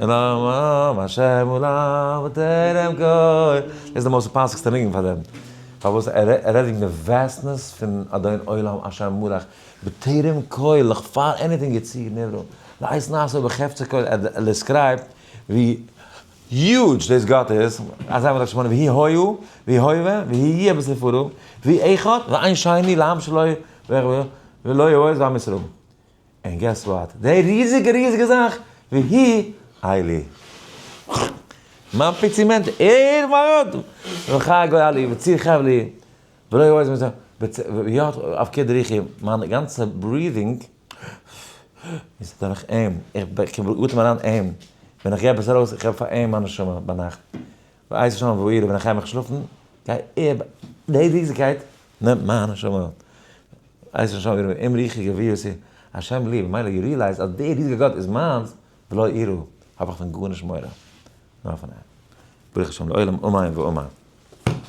און אָם השם עולם וטרם גוי. דאס איז די מאסט פאסיגסטע ניגון פאר דעם. פארוואס? ער רעדט וועגן די וועסטנעס פון אדון עולם השם מלך בטרם קוי לך פאר עניטינג יציר נברא לעת נעשה בחפצו קוי לך ער דעסקרייבט ווי יוטש דאס גאט איז אזי מ'דארף נישט מאנען ויהי הוהו ויהי הוה ויהי יהיה בספרו ויהי אחד ועיין שני לעם שלא יראה ולא יעז ועם ישראל. און געס וואט? די ריזיגע ריזיגע זאך והיא איילי. מיין פיצי מענטש, ער ווארט! וחי גוי אלי וציר חבלי ולא יעז מזה ויאט אויף קער דריכי, מיין גאנצע ברידינג איז דורך אים, איך אטעם אריין אים, ווען איך גיי עפעס ארויס, איך געב פאר אים מיין נשמה ביינאכט. ווייס שוין וואו אירע בני חיימעך שלאפן, גיי איב די ריזיגקייט נעמט מיין נשמה אויף. ווייס שוין וואו אירע אומרוחי גוויות איר השם לי, ממילא יו ריעלייז אז דער ריזיגער גאט איז מיינס ולא אירא, האב איך פון גארנישט מורא, נאר פון אים. ברוך השם לעולם אמן ואמן.